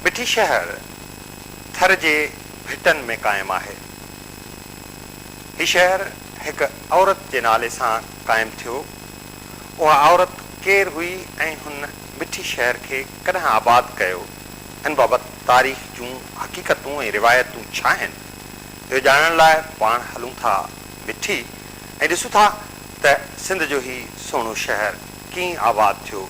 مٺي شهر ٿر جي ڀٽن ۾ قائم آهي. هي شهر هڪ عورت جي نالي سان قائم ٿيو. اها عورت ڪير هئي ۽ هن مٺي شهر کي ڪڏهن آباد ڪيو، ان بابت تاريخ جون حقيقتون ۽ روايتون ڇا آهن، اهو ڄاڻڻ لاء پاڻ هلون ٿا مٺي ۽ ڏسون ٿا ته سنڌ جو هي سهڻو شهر ڪيئن آباد ٿيو.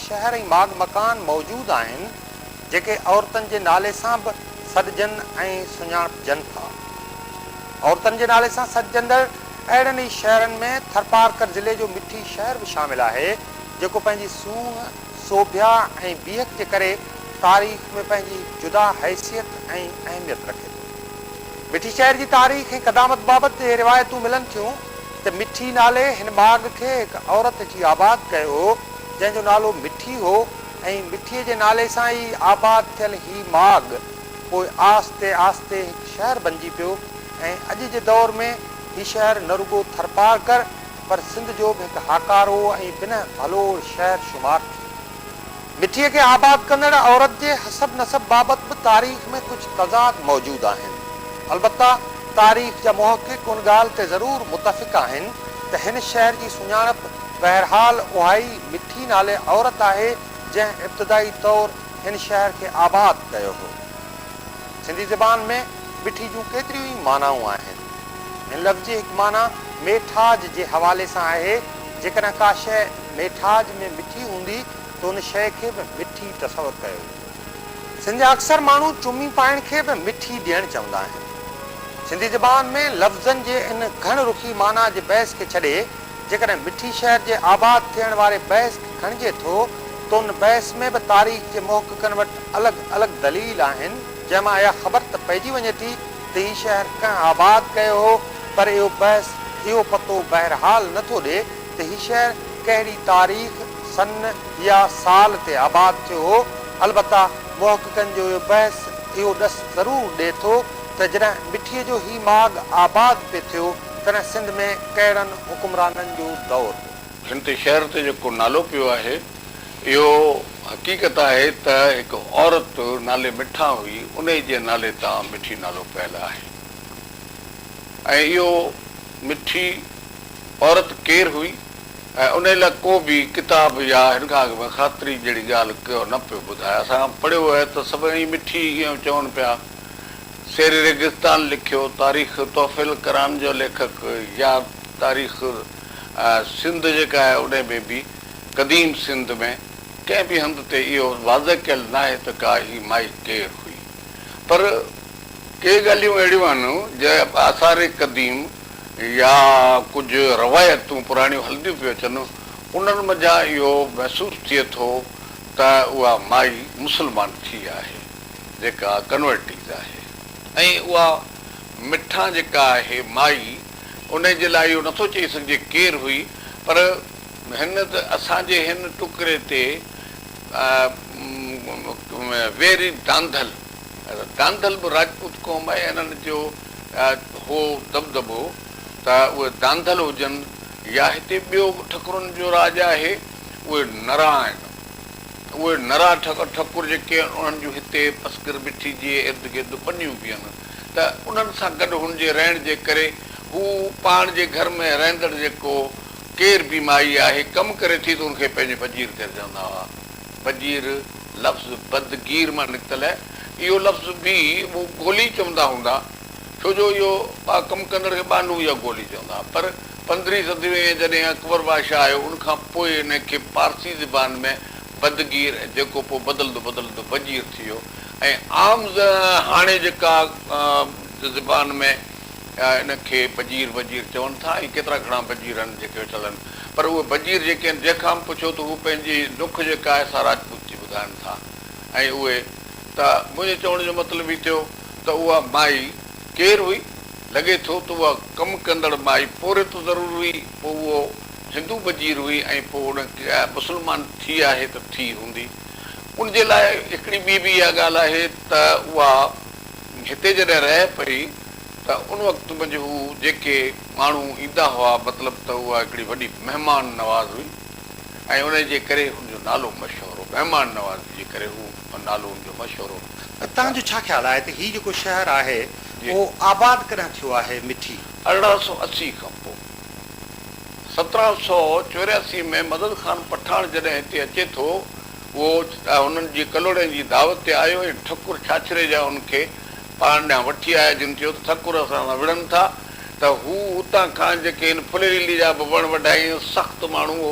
شهر ۽ ماڳ مڪان موجود آهن، جيڪي عورتن جي نالي سان به سڏجن ۽ سڃاڻپجن ٿا. عورتن جي نالي سان سڏجندڙ اهڙن ئي شهرن ۾ ٿرپارڪر ضلعي جو مٺي شهر به شامل آهي، جيڪو پنهنجي سونهن، سوڀيا ۽ بيهڪ جي ڪري تاريخ ۾ پنهنجي هڪ جدا حيثيت ۽ اهميت رکي ٿو. مٺي شهر جي تاريخ ۽ قدامت بابت اهي روايتون ملن ٿيون ته مٺي نالي هن ماڳ کي هڪ عورت جي آباد ڪيو هو، جنهن جو نالو مٺي هو ۽ مٺيء جي نالي سان ئي آباد ٿيل هي ماڳ پوء آهستي آهستي هڪ شهر بنجي پيو ۽ اڄ جي دور ۾ هي شهر نه رڳو ٿرپارڪر پر سنڌ جو به هڪ هاڪارو ۽ بنهه ڀلو شهر شمار ٿئي ٿو. مٺيء کي آباد ڪندڙ عورت جي حسب نسب بابت به تاريخ ۾ ڪجهه تضاد موجود آهن. البته تاريخ جا محقق ان ڳالهه تي ضرور متفق آهن ته هن شهر جي سڃاڻپ، بهرحال اهائي مٺي نالي عورت آهي جنهن ابتدائي طور هن شهر کي آباد ڪيو هو. سنڌي زبان ۾ مٺي جون ڪيتريون ئي معنائون آهن. هن لفظ جي هڪ معنيٰ ميٺاج جي حوالي سان آهي، جيڪڏهن ڪا شيء ميٺاج ۾ مٺي هوندي ته ان شيء کي به مٺي تصور ڪيو ويندو. سنڌ جا اڪثر ماڻهو چمي پائڻ کي به مٺي ڏيڻ چوندا آهن. سنڌي زبان ۾ لفظن جي ان گهڻ رخي معنيٰ جي بحث کي ڇڏي جيڪڏهن مٺي شهر جي آباد ٿيڻ واري بحث کي کڻجي ٿو ته ان بحث ۾ به تاريخ جي محققن وٽ الڳ الڳ دليل آهن جنهن مان اها خبر ته پئجي وڃي ٿي ته هي شهر ڪنهن آباد ڪيو هو پر اهو بحث اهو پتو بهرحال نه ٿو ڏي ته هي شهر ڪهڙي تاريخ، سن يا سال تي آباد ٿيو هو البته محققن جو اهو بحث اهو ڏس ضرور ڏي ٿو ته جڏهن مٺي جو هي ماڳ آباد پئي ٿيو. تڏهن سنڌ ۾ ڪهڙن حڪمرانن جو دور هو؟ هن تي شهر تي جيڪو نالو پيو آهي، اهو حقيقت آهي ته هڪ عورت نالي مٺا هئي، انهي جي نالي تان مٺي نالو پيل آهي ۽ اهو مٺي عورت ڪير هئي ۽ انهي لاء ڪو به ڪتاب يا هن کان اڳ ۾ خاطري جهڙي ڳالهه ڪو نه پيو ٻڌائي. اسان پڙهيو آهي ته سڀئي مٺي ئي اهو چون پيا. شير ريگستان لکيو، تاريخ تحفيل ڪران جو ليکڪ يا تاريخ سنڌ جيڪا آهي انهي ۾ به قديم سنڌ ۾ ڪنهن به هنڌ تي اهو واضح ڪيل ناهي ته ڪا هي مائي ڪير هئي پر ڪي ڳالهيون اهڙيون آهن جنهن آثار قديم يا ڪجهه روايتون پراڻيون هلنديون پيون اچن انهن منجهان اهو محسوس ٿئي ٿو ته اها مائي مسلمان ٿي آهي. جيڪا ڪنورٽيز آهي ۽ اها مٺان جيڪا آهي مائي انهي جي لاء اهو نٿو چئي سگهجي ڪير هئي پر هن ته اسان جي هن ٽڪري تي ويري دانڌل دانڌل به راجپوت قوم آهي انهن جو هو دٻدٻو ته اهي دانڌل هجن يا هتي ٻيو به ٺڪرن جو راڄ آهي اهي نرا آهن. اهي نرا ٺڪر جيڪي انهن جون هتي پسگر بٺي جي ارد گرد ٻنيون به آهن ته انهن سان گڏ هن جي رهڻ جي ڪري هو پاڻ جي گهر ۾ رهندڙ جيڪو ڪير به مائي آهي ڪم ڪري ٿي ته ان کي پنهنجي بجير ڪري چوندا هئا. بجير لفظ بدگير مان نڪتل اهي اهو لفظ به هو گولي چوندا هوندا. ڇو جو اهو ٻا ڪم ڪندڙ کي ٻانهون يا گولي چوندا هئا پر پندرهين صدي ۾ جڏهن اڪبر بادشاهه آيو ان کان پوء ان کي پارسي زبان ۾ بدگير ۽ جيڪو پوء بدلندو بدلندو بجير ٿي ويو ۽ عام هاڻي جيڪا زبان ۾ ان کي بجير وجير چون ٿا ۽ ڪيترا گهڻا بجير آهن جيڪي ويٺل آهن پر اهي بجير جيڪي آهن جنهن کان به پڇو ته هو پنهنجي نک جيڪا آهي سا راجپوتي ٻڌائن ٿا ۽ اهي ته منهنجي چوڻ جو مطلب هي ٿيو ته اها مائي ڪير هئي؟ لڳي ٿو ته اها ڪم ڪندڙ مائي پورهيت ضرور هئي، پوء اهو هندو وزير هئي ۽ پوء ان مسلمان ٿي آهي ته ٿي هوندي. ان جي لاء هڪڙي ٻي به اها ڳالهه آهي ته اها هتي جڏهن رهي پئي ته ان وقت منجهه هو جيڪي ماڻهو ايندا هئا مطلب ته اها هڪڙي وڏي مهمان نواز هئي ۽ انهي جي ڪري هن جو نالو مشهور هو. مهمان نوازي جي ڪري هو. ۽ نالو ان جو مشهور هو ته توهان جو ڇا خيال آهي ته هي جيڪو شهر آهي اهو آباد ڪڏهن ٿيو آهي مٺي. ارڙهن سؤ اسي کان پوء. سترهن سؤ چورياسي ۾ مدد خان پٺاڻ جڏهن هتي اچي ٿو اهو هنن جي ڪلهوڙين جي دعوت تي آيو ۽ ٺڪر ڇاڇري جا ان کي پاڻ ڏانهن وٺي آيا جن چيو ته ٺڪر اسان سان وڙهن ٿا ته هو اتان کان جيڪي هن ڦليريلي جا به وڻ وڍائين سخت ماڻهو هو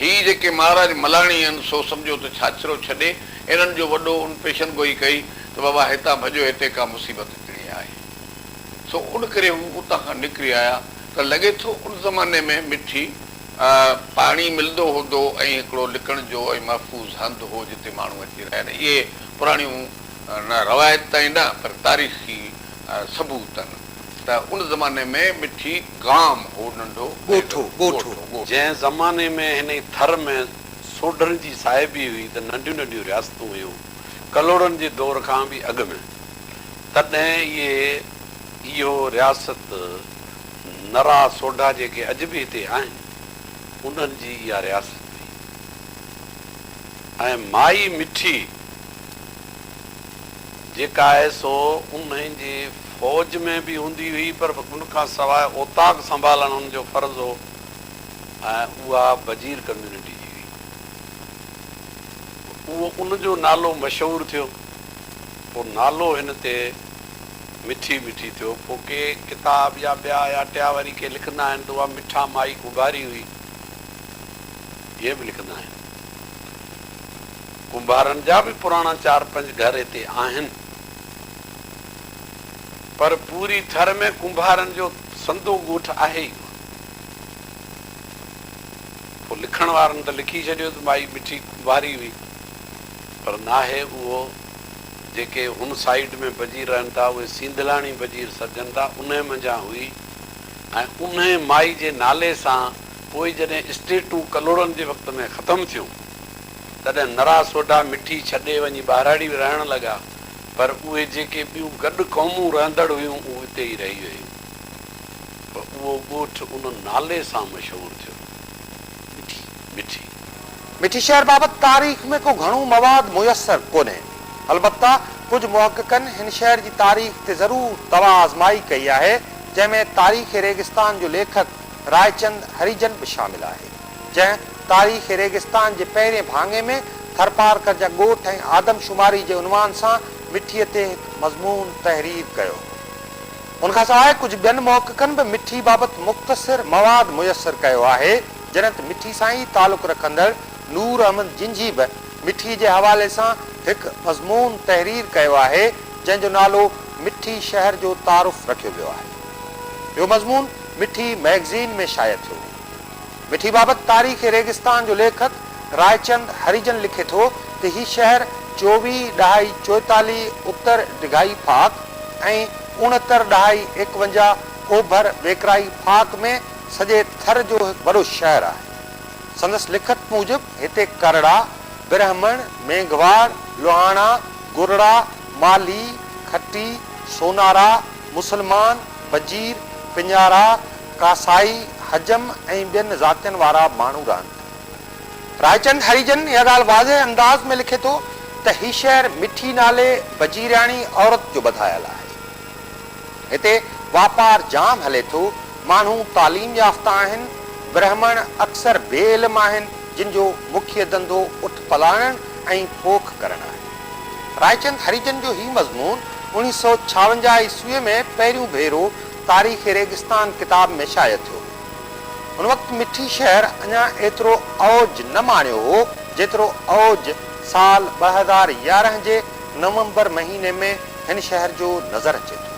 هي جيڪي مهاراج ملاڻي آهن سو سمجهو ته ڇاڇرو ڇڏي انهن جو وڏو ان پيشن گوئي ڪئي ته بابا هتان ڀڄو هتي ڪا مصيبت اچڻي آهي سو ان ڪري هو اتان کان نڪري آيا ته لڳي ٿو ان زماني ۾ مٺي پاڻي ملندو هوندو ۽ هڪڙو لڪڻ جو ۽ محفوظ هنڌ هو جتي ماڻهو اچي رهيا آهن اهي پراڻيون نه روايتون نه پر تاريخي ثبوت آهن. ته ان زماني ۾ مٺي گام هو ننڍو ڳوٺو، ڳوٺو، جنهن زماني ۾ هن ئي ٿر ۾ سوڍن جي صاحبي هئي ته ننڍيون ننڍيون رياستون هيون ڪلهوڙن جي دور کان به اڳ ۾، تڏهن اهي اهو رياست نرا سوڍا جيڪي اڄ به هتي آهن انهن جي اها رياست هئي ۽ مائي مٺي. جيڪا آهي سو انهن جي فوج ۾ به هوندي هئي پر ان کان سواء اوطاق سنڀالڻ هن جو فرض هو ۽ اها بجير ڪميونٽي جي هئي. اهو ان جو نالو مشهور ٿيو. پوء نالو هن تي مٺي مٺي ٿيو. پوء ڪي ڪتاب يا ٻيا يا ٽيا وري ڪي لکندا آهن ته اها مٺا مائي ڪنڀاري هئي. اهي به لکندا آهن. ڪنڀارن جا به پراڻا چار پنج گهر اتي آهن پر پوري ٿر ۾ ڪنڀارن جو سندو ڳوٺ آهي ئي ڪونه. پوء لکڻ وارن ته لکي ڇڏيو ته مائي مٺي ڪنڀاري هئي پر ناهي اهو. جيڪي هن سائيڊ ۾ بجير رهن ٿا اهي سينڌلاڻي بجير سڏجن ٿا انهي منجهان هئي ۽ انهي مائي جي نالي سان پوء جڏهن اسٽيٽون ڪلهوڙن جي وقت ۾ ختم ٿيون تڏهن نرا سوڍا مٺي ڇڏي وڃي ٻهراڙي به رهڻ لڳا، پر اهي جيڪي ٻيون گڏ قومون رهندڙ هيون اهو اتي ئي رهي ويون. پ اهو ڳوٺ ان نالي سان مشهور ٿيو، مٺي، مٺي. مٺي شهر بابت تاريخ ۾ ڪو گهڻو مواد ميسر ڪونهي. البته ڪجهه محققن هن شهر جي تاريخ تي ضرور دوا آزمائي ڪئي آهي، جنهن ۾ تاريخ ريگستان جو ليکڪ رائچند هريجن به شامل آهي. جنهن تاريخ ريگستان جي پهرين ڀاڱي ۾ ٿرپارڪر جا ڳوٺ ۽ آدمشماري جي عنوان سان مٺي تي هڪ مضمون تحرير ڪيو. ان کان سواء ڪجهه ٻين محققن به مٺي بابت مختصر مواد ميسر ڪيو آهي، جڏهن ته مٺي سان ئي تعلق رکندڙ نور احمد جنجهي به مٺي جي حوالي سان هڪ مضمون تحرير ڪيو آهي، جنهن جو نالو مٺي شهر جو تعارف رکيو ويو آهي. اهو مضمون مٺي مئگزين ۾ شايع ٿيو هو. مٺي بابت تاريخ ريگستان جو ليکڪ رائچند هريجن لکي ٿو ته هي شهر چوويهه ڏهائي چوئيتاليهه اتر ڊگهائي ڦاڪ ۽ اڻهتر ڏهائي ايڪونجاهه اوڀر ويڪرائي ڦاڪ ۾ سڄي ٿر جو هڪ وڏو شهر آهي. سندس لکت موجب هتي ڪرڙا، برهمڻ، مينگهواڙ، لوهاڻا، گرڙا، مالهي، کٽي، سونارا، مسلمان، وزير، پڃارا، ڪاسائي، حجم ۽ ٻين ذاتين وارا ماڻهو رهن ٿا. رائچند هريجن اها ڳالهه واضح انداز ۾ لکي ٿو ته هي شهر مٺي نالي وزيرياڻي عورت جو ٻڌايل آهي. هتي واپار جام هلي ٿو، ماڻهو تعليم يافته آهن، برهمڻ اڪثر بي علم آهن، جن جو مکيه ڌنڌو اٺ پلاڻڻ ۽ پوک ڪرڻ آهي. رائچند هريجن جو هي مضمون اوڻيهه سؤ ڇاونجاهه عيسويء ۾ پهريون ڀيرو تاريخ ريگستان ڪتاب ۾ شايع ٿيو. ان وقت مٺي شهر اڃا ايترو اوج نه ماڻيو هو، جيترو اوج سال ٻه هزار يارهن جي نومبر مهيني ۾ هن شهر جو نظر اچي ٿو.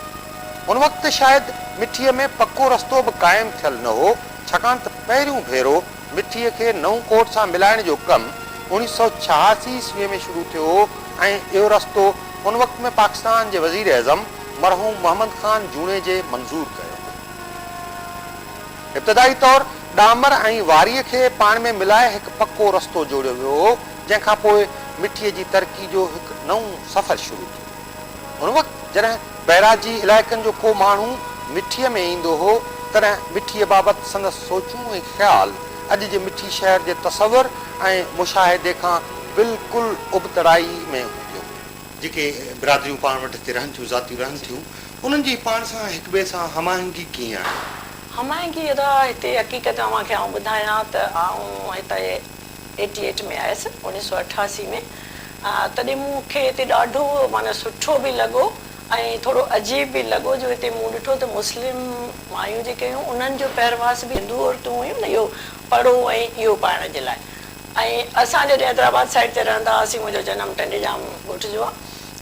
ان وقت شايد مٺيء ۾ پڪو رستو به قائم ٿيل نه هو، ڇاڪاڻ ته پهريون ڀيرو مٺيء کي نئون ڪوٽ سان ملائڻ جو ڪم اوڻيهه سؤ ڇهاسي عيسويء ۾ شروع ٿيو هو ۽ اهو رستو ان وقت ۾ پاڪستان جي وزير اعظم مرحوم محمد خان جوڻيجي منظور ڪيو هو. ابتدائي طور ڏامر ۽ واريء کي پاڻ ۾ ملائي هڪ پڪو رستو جوڙيو ويو هو، جنهن کان پوء مٺيء جي ترقي جو هڪ نئون سفر شروع ٿيو. ان وقت جڏهن. بئراجي علائقن جو ڪو ماڻهو مٺيء ۾ ايندو هو، تڏهن مٺيء بابت سندس سوچون ۽ خيال اڄ جي مٺي شهر جي تصور ۽ مشاهدي کان بلڪل ابتڙائي ۾ هوندو هو. جيڪي برادريون پاڻ وٽ هتي رهن ٿيون، ذاتيون رهن ٿيون، انهن جي پاڻ سان هڪٻئي سان هم آهنگي ڪيئن آهي؟ هم آهنگي ادا هتي حقيقت اوهان کي آئون ٻڌايان ته آئون هتي. ايٽي ايٽ ۾ آيس اوڻيھ سؤ اٺاسي ۾ تڏھن مون کي اتي ڏاڍو معنيٰ سٺو به لڳو ۽ ٿورو عجيب به لڳو جو اتي مون ڏٺو ته مسلم مايون جيڪي ھيون انھن جو پهرواس به ھندو عورتون ھيون نه اھو پڙو ۽ اھو پائڻ جي لاء ۽ اسان جڏھن حيدرآباد سائيڊ تي رھندا ھئاسين منھنجو جنم ٽنڊيجام ڳوٺ جو آ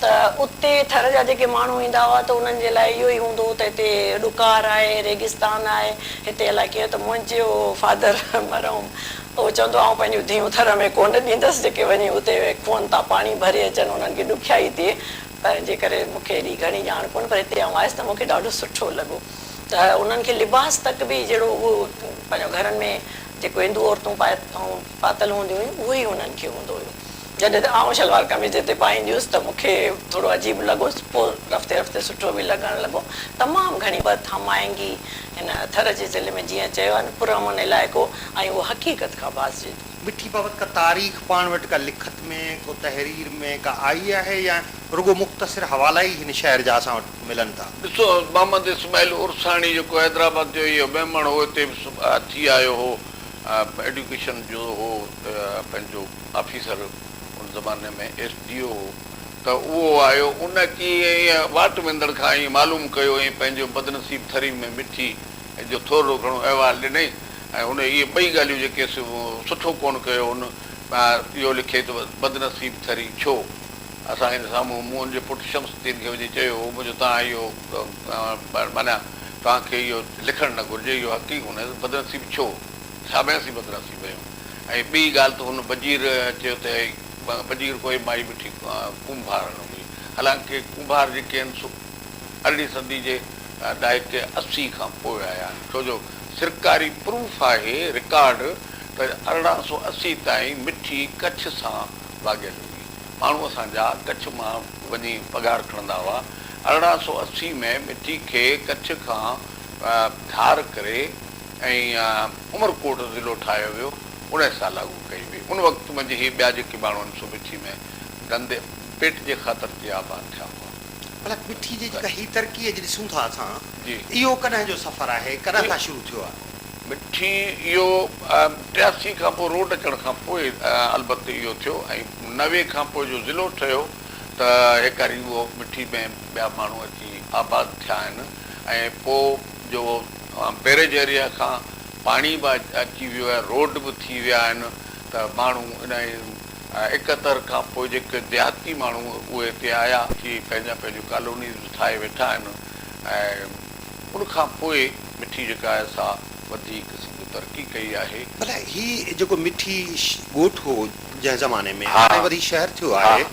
ته اتي ٿر جا جيڪي ماڻھو ايندا ھئا ته انھن جي لاء اھو ئي ھوندو ھو ته ھتي ڏڪار آھي ريگستان آھي ھتي الائي ڪيئن ته منھنجو فادر مرحوم هو چوندو آئون پنهنجون ڌيئون ٿر ۾ ڪونه ڏيندس جيڪي وڃي اتي اهي کوهن تان پاڻي ڀري اچن انهن کي ڏکيائي ٿئي پنهنجي ڪري مون کي ايڏي گهڻي ڄاڻ ڪونه پر هتي آئون آيس ته مون کي ڏاڍو سٺو لڳو ته انهن کي لباس تڪ به جهڙو اهو پنهنجو گهرن ۾ جيڪو هندو عورتون پاء پاتل هونديون هيون اهو ئي انهن کي هوندو هيو. جڏهن ته آئون شلوار قميص جتي پائيندي هيس ته مون کي ٿورو عجيب لڳو پوء رفتي رفتي سٺو به لڳڻ لڳو. تمام گهڻي بت هم آهنگي هن ٿر جي ضلعي ۾ جيئن چيو آهي نه پرامن علائقو ۽ اهو حقيقت کان باز جيتو. مٺي بابت ڪا تاريخ پاڻ وٽ ڪا لکت ۾ ڪو تحرير ۾ ڪا آئي آهي يا رڳو مختصر حوالا ئي هن شهر جا اسان وٽ ملن ٿا. ڏسو محمد اسماعيل عرساڻي جيڪو حيدرآباد جو اهي ميمڻ هو هتي به ٿي آيو هو ايڊيوڪيشن جو هو پنهنجو آفيسر ان زماني ۾ ايس ڊي او هو ته اهو آيو ان اچي ائين واٽ ويندڙ کان ائين معلوم ڪيو ۽ پنهنجو بدنصيب ٿري ۾ مٺي جو ٿورڙو گهڻو احوال ڏنئي ۽ هن اهي ٻئي ڳالهيون جيڪي سٺو ڪونه ڪيو هن اهو لکي ته بدنصيب ٿري ڇو اسان هن سامهون مون جي پٽ شمس الدين کي وڃي چيو هو منهنجو توهان اهو معنيٰ توهان کي اهو لکڻ نه گهرجي اهو حق ئي ڪونه بدنصيب ڇو ڇا ۾ اسين بدنصيب آهيون ۽ ٻي ڳالهه ته هن بجير چيو ته بجير ڪوهي مائي مٺي ڪنڀارڻ هئي. حالانڪه ڪنڀار جيڪي آهن سو ارڙهين صدي جي ڏهاڪي اسي کان پوء آيا آهن ڇو جو سرڪاري پروف آهي رڪارڊ ته ارڙهن سؤ اسي تائين مٺي ڪڇ سان ڀاڳيل هئي ماڻهو اسان جا ڪڇ مان وڃي پگهار کڻندا هئا ارڙهن سؤ اسي ۾ مٺي کي ڪڇ کان ڌار ڪري ۽ عمرڪوٽ ضلعو ٺاهيو ويو ان سال لاڳو ڪئي وئي ان وقت منجهه هي ٻيا جيڪي ماڻهو آهن سو مٺي ۾ ڌنڌي پيٽ جي خاطر تي آباد ٿيا هئا ڀلا مٺي جي جيڪا هي ترقي اڄ ڏسون ٿا اسان اهو ڪڏهن جو سفر آهي ڪڏهن کان شروع ٿيو آهي. مٺي اهو ٽياسي کان پوء روڊ اچڻ کان پوء البت اهو ٿيو ۽ نوي کان پوء جو ضلعو ٺهيو ته هيڪاري اهو مٺي ۾ ٻيا ماڻهو اچي آباد ٿيا آهن ۽ پوء جو بيريج ايريا کان پاڻي به اچي ويو آهي، روڊ به ٿي ويا آهن ته ماڻهو انهي اڪتر کان پوء جيڪي ديهاتي ماڻهو اهي هتي آيا اچي پنهنجا پنهنجون ڪالونيز به ٺاهي ويٺا آهن ۽ ان کان پوء مٺي جيڪا آهي سا وڌيڪ قسم جو ترقي ڪئي آهي. ڀلا هي جيڪو مٺي ڳوٺ هو جنهن زماني ۾ هاڻي وري شهر ٿيو آهي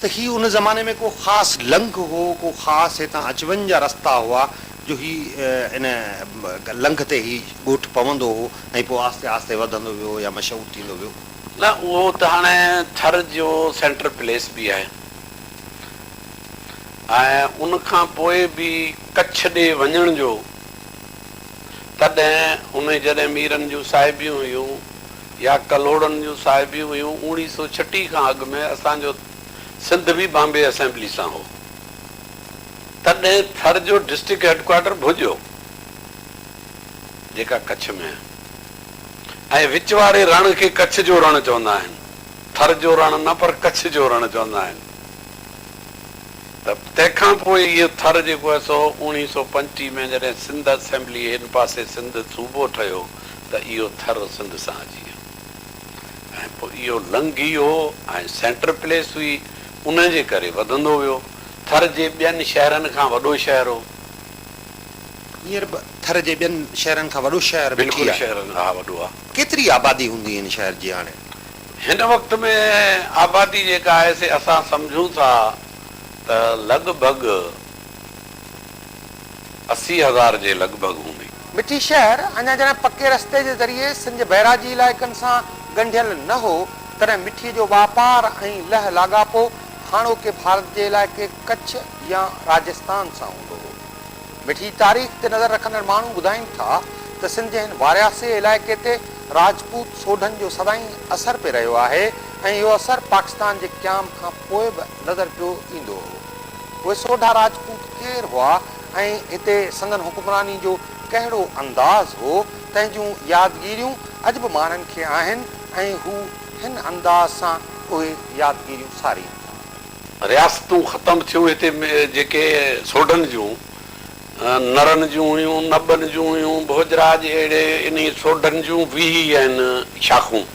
ته هي ان زماني ۾ ڪو خاص لنگهه هو ڪو خاص هتان اچ وڃ جا رستا هئا جو هي ان لنگهه تي هي ڳوٺ پوندو هو ۽ پوء آهستي آهستي وڌندو ويو يا مشهور ٿيندو ويو. نه اهو ته هاڻي ٿر جو سينٽر پليس به آهي ۽ ان کان پوء به ڪڇ ڏي وڃڻ جو تڏهن اهي جڏهن ميرن جون صاحبيون هيون يا ڪلهوڙن جون صاحبيون هيون اوڻيهه سؤ ڇٽيهه کان اڳ ۾ اسان جو سنڌ به بامبي اسيمبلي سان هو. تڏهن ٿر جو ڊسٽرڪٽ هيڊڪوارٽر ڀوڄو، جيڪا ڪڇ ۾ آهي ۽ وچ واري رڻ کي ڪڇ جو رڻ چوندا آهن، ٿر جو رڻ نه پر ڪڇ جو رڻ چوندا آهن ته تنهن کان پوء اهو ٿر جيڪو آهي سو اوڻيهه سؤ پنجٽيهه ۾ جڏهن سنڌ اسيمبلي هن پاسي سنڌ صوبو ٺهيو ته اهو ٿر سنڌ سان اچي ويو ۽ پوء اهو لنگهي ويو ۽ سينٽر پليس هئي ان جي ڪري وڌندو ويو. ٿر جي ٻين شهرن کان وڏو شهر هو. هينئر به ٿر جي ٻين شهرن کان وڏو شهر مٺي آهي. بلڪل شهرن کان وڏو آهي. ڪيتري آبادي هوندي هن شهر جي هاڻي؟ هن وقت ۾ آبادي جيڪا آهي سي اسان سمجهون ٿا ته لڳ ڀڳ اسي هزار جي لڳ ڀڳ هوندي. مٺي شهر اڃا جڏهن پڪي رستي جي ذريعي سنڌ بئراجي علائقن سان ڳنڍيل نه هو تڏهن مٺي جو واپار ۽ لهه لاڳاپو هاڻوڪي ڀارت جي علائقي ڪڇ يا راجستان سان هوندو هو. مٺي تاريخ تي نظر رکندڙ ماڻهو ٻڌائين ٿا ته سنڌ جي هن وارياسي علائقي تي راجپوت سوڍن جو سدائين اثر پئي رهيو آهي ۽ اهو اثر پاڪستان جي قيام کان پوء به نظر پيو ايندو هو. اهي سوڍا راجپوت ڪير هئا ۽ هتي سندن حڪمراني جو ڪهڙو انداز هو، تنهن جون يادگيريون اڄ به ماڻهن کي آهن ۽ هو، هن انداز سان اهي يادگيريون سارين ٿا. رياستون ختم ٿيون هتي جيڪي سوڍن جون، نرن جون هيون، نبن جون هيون، ڀوڄراج اهڙي انهي سوڍن جون ويهي هن شاخون.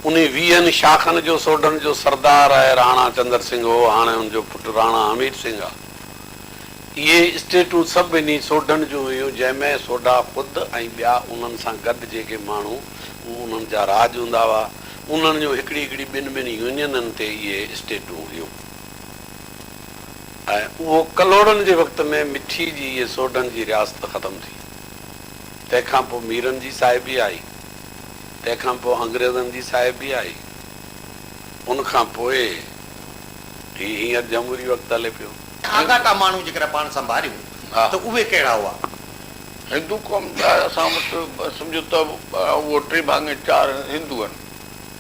انهي ويهن شاخن جو سوڍن جو سردار آء راڻا چندر سنگهه هو، هاڻي ان جو پٽ راڻا حميد سنگهه آ. اهي اسٽيٽون سڀ انهي سوڍن جون هيون جنهن ۾ سوڍا خود ۽ ٻيا انهن سان گڏ جيڪي ماڻهو، اهي انهن جا راڄ هوندا هئا. انهن جون هڪڙي هڪڙي ٻن ٻن يونينن تي اهي اسٽيٽون هيون ۽ اهو ڪلهوڙن جي وقت ۾ مٺي جي اهي سوڍن جي رياست ختم ٿي. تنهن کان پوء ميرن جي صاحبي آئي. تنهن کان پوء انگريزن جي صاحبي آئي. ان کان پوء هي هينئر جمهوري وقت هلي پيو. آڳاٽا ماڻهو جيڪڏهن پاڻ سنڀاريون ته اهي ڪهڙا هئا؟ هندو قوم جا اسان وٽ سمجهو ته اهو ٽي ڀاڱي چار هندو آهن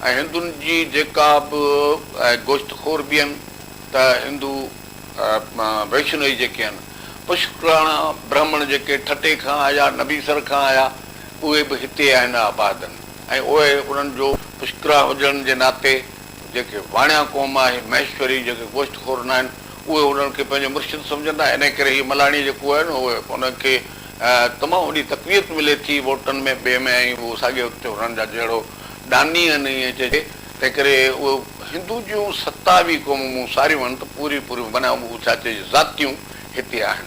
۽ هندن جي جيڪا به گوشت خور به آهن ته هندو ويشنوئي جيڪي آهن پشڪراڻا برهمڻ جيڪي ٺٽي کان آيا نبيسر کان آيا اهي به هتي آهن آباد آهن ۽ اهي انهن جو پشڪراڻا هجڻ جي ناتي جيڪي واڻيا قوم آهي، مهيشوري، جيڪي گوشت خور ناهن، اهي هنن کي پنهنجو مرشد سمجهن ٿا، انهيء ڪري هي ملاڻي جيڪو آهي نه اهي انهن کي تمام وڏي تقويت ملي ٿي ووٽن ۾ ٻئي ۾ ۽ اهو ساڳيو وقت تي هنن جا جهڙو ڏاني آهن ائين چئجي تنهن ڪري اهي هندو جون ستاوي قومون مون ساريون آهن ته پوريون پوريون بنائون اهو ڇا چئجي ذاتيون هتي آهن.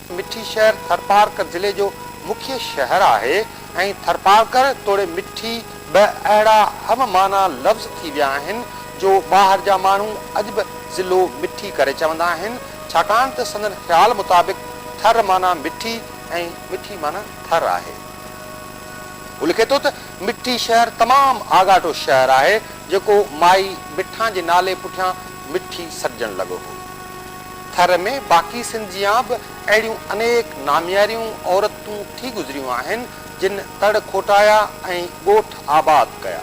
مٺي شهر ٿرپارڪر ضلعي جو مکيه شهر آهي ۽ ٿرپارڪر توڙي مٺي به اهڙا هم معنيٰ لفظ ٿي ويا آهن جو ٻاهر جا ماڻهو اڄ به ضلعو مٺي ڪري چوندا آهن ڇاڪاڻ ته سندن خيال مطابق ٿر معنيٰ مٺي ۽ مٺي معنيٰ ٿر آهي. هو لکي ٿو ته مٺي شهر تمام آڳاٽو شهر آهي جيڪو مائي مٺان جي نالي پٺيان مٺي سڏجڻ لڳو هو. ٿر ۾ باقي سنڌ جيان به اهڙيون انيڪ نامياريون عورتون ٿي گذريون آهن، جن تڙ کوٽايا ۽ ڳوٺ آباد ڪيا.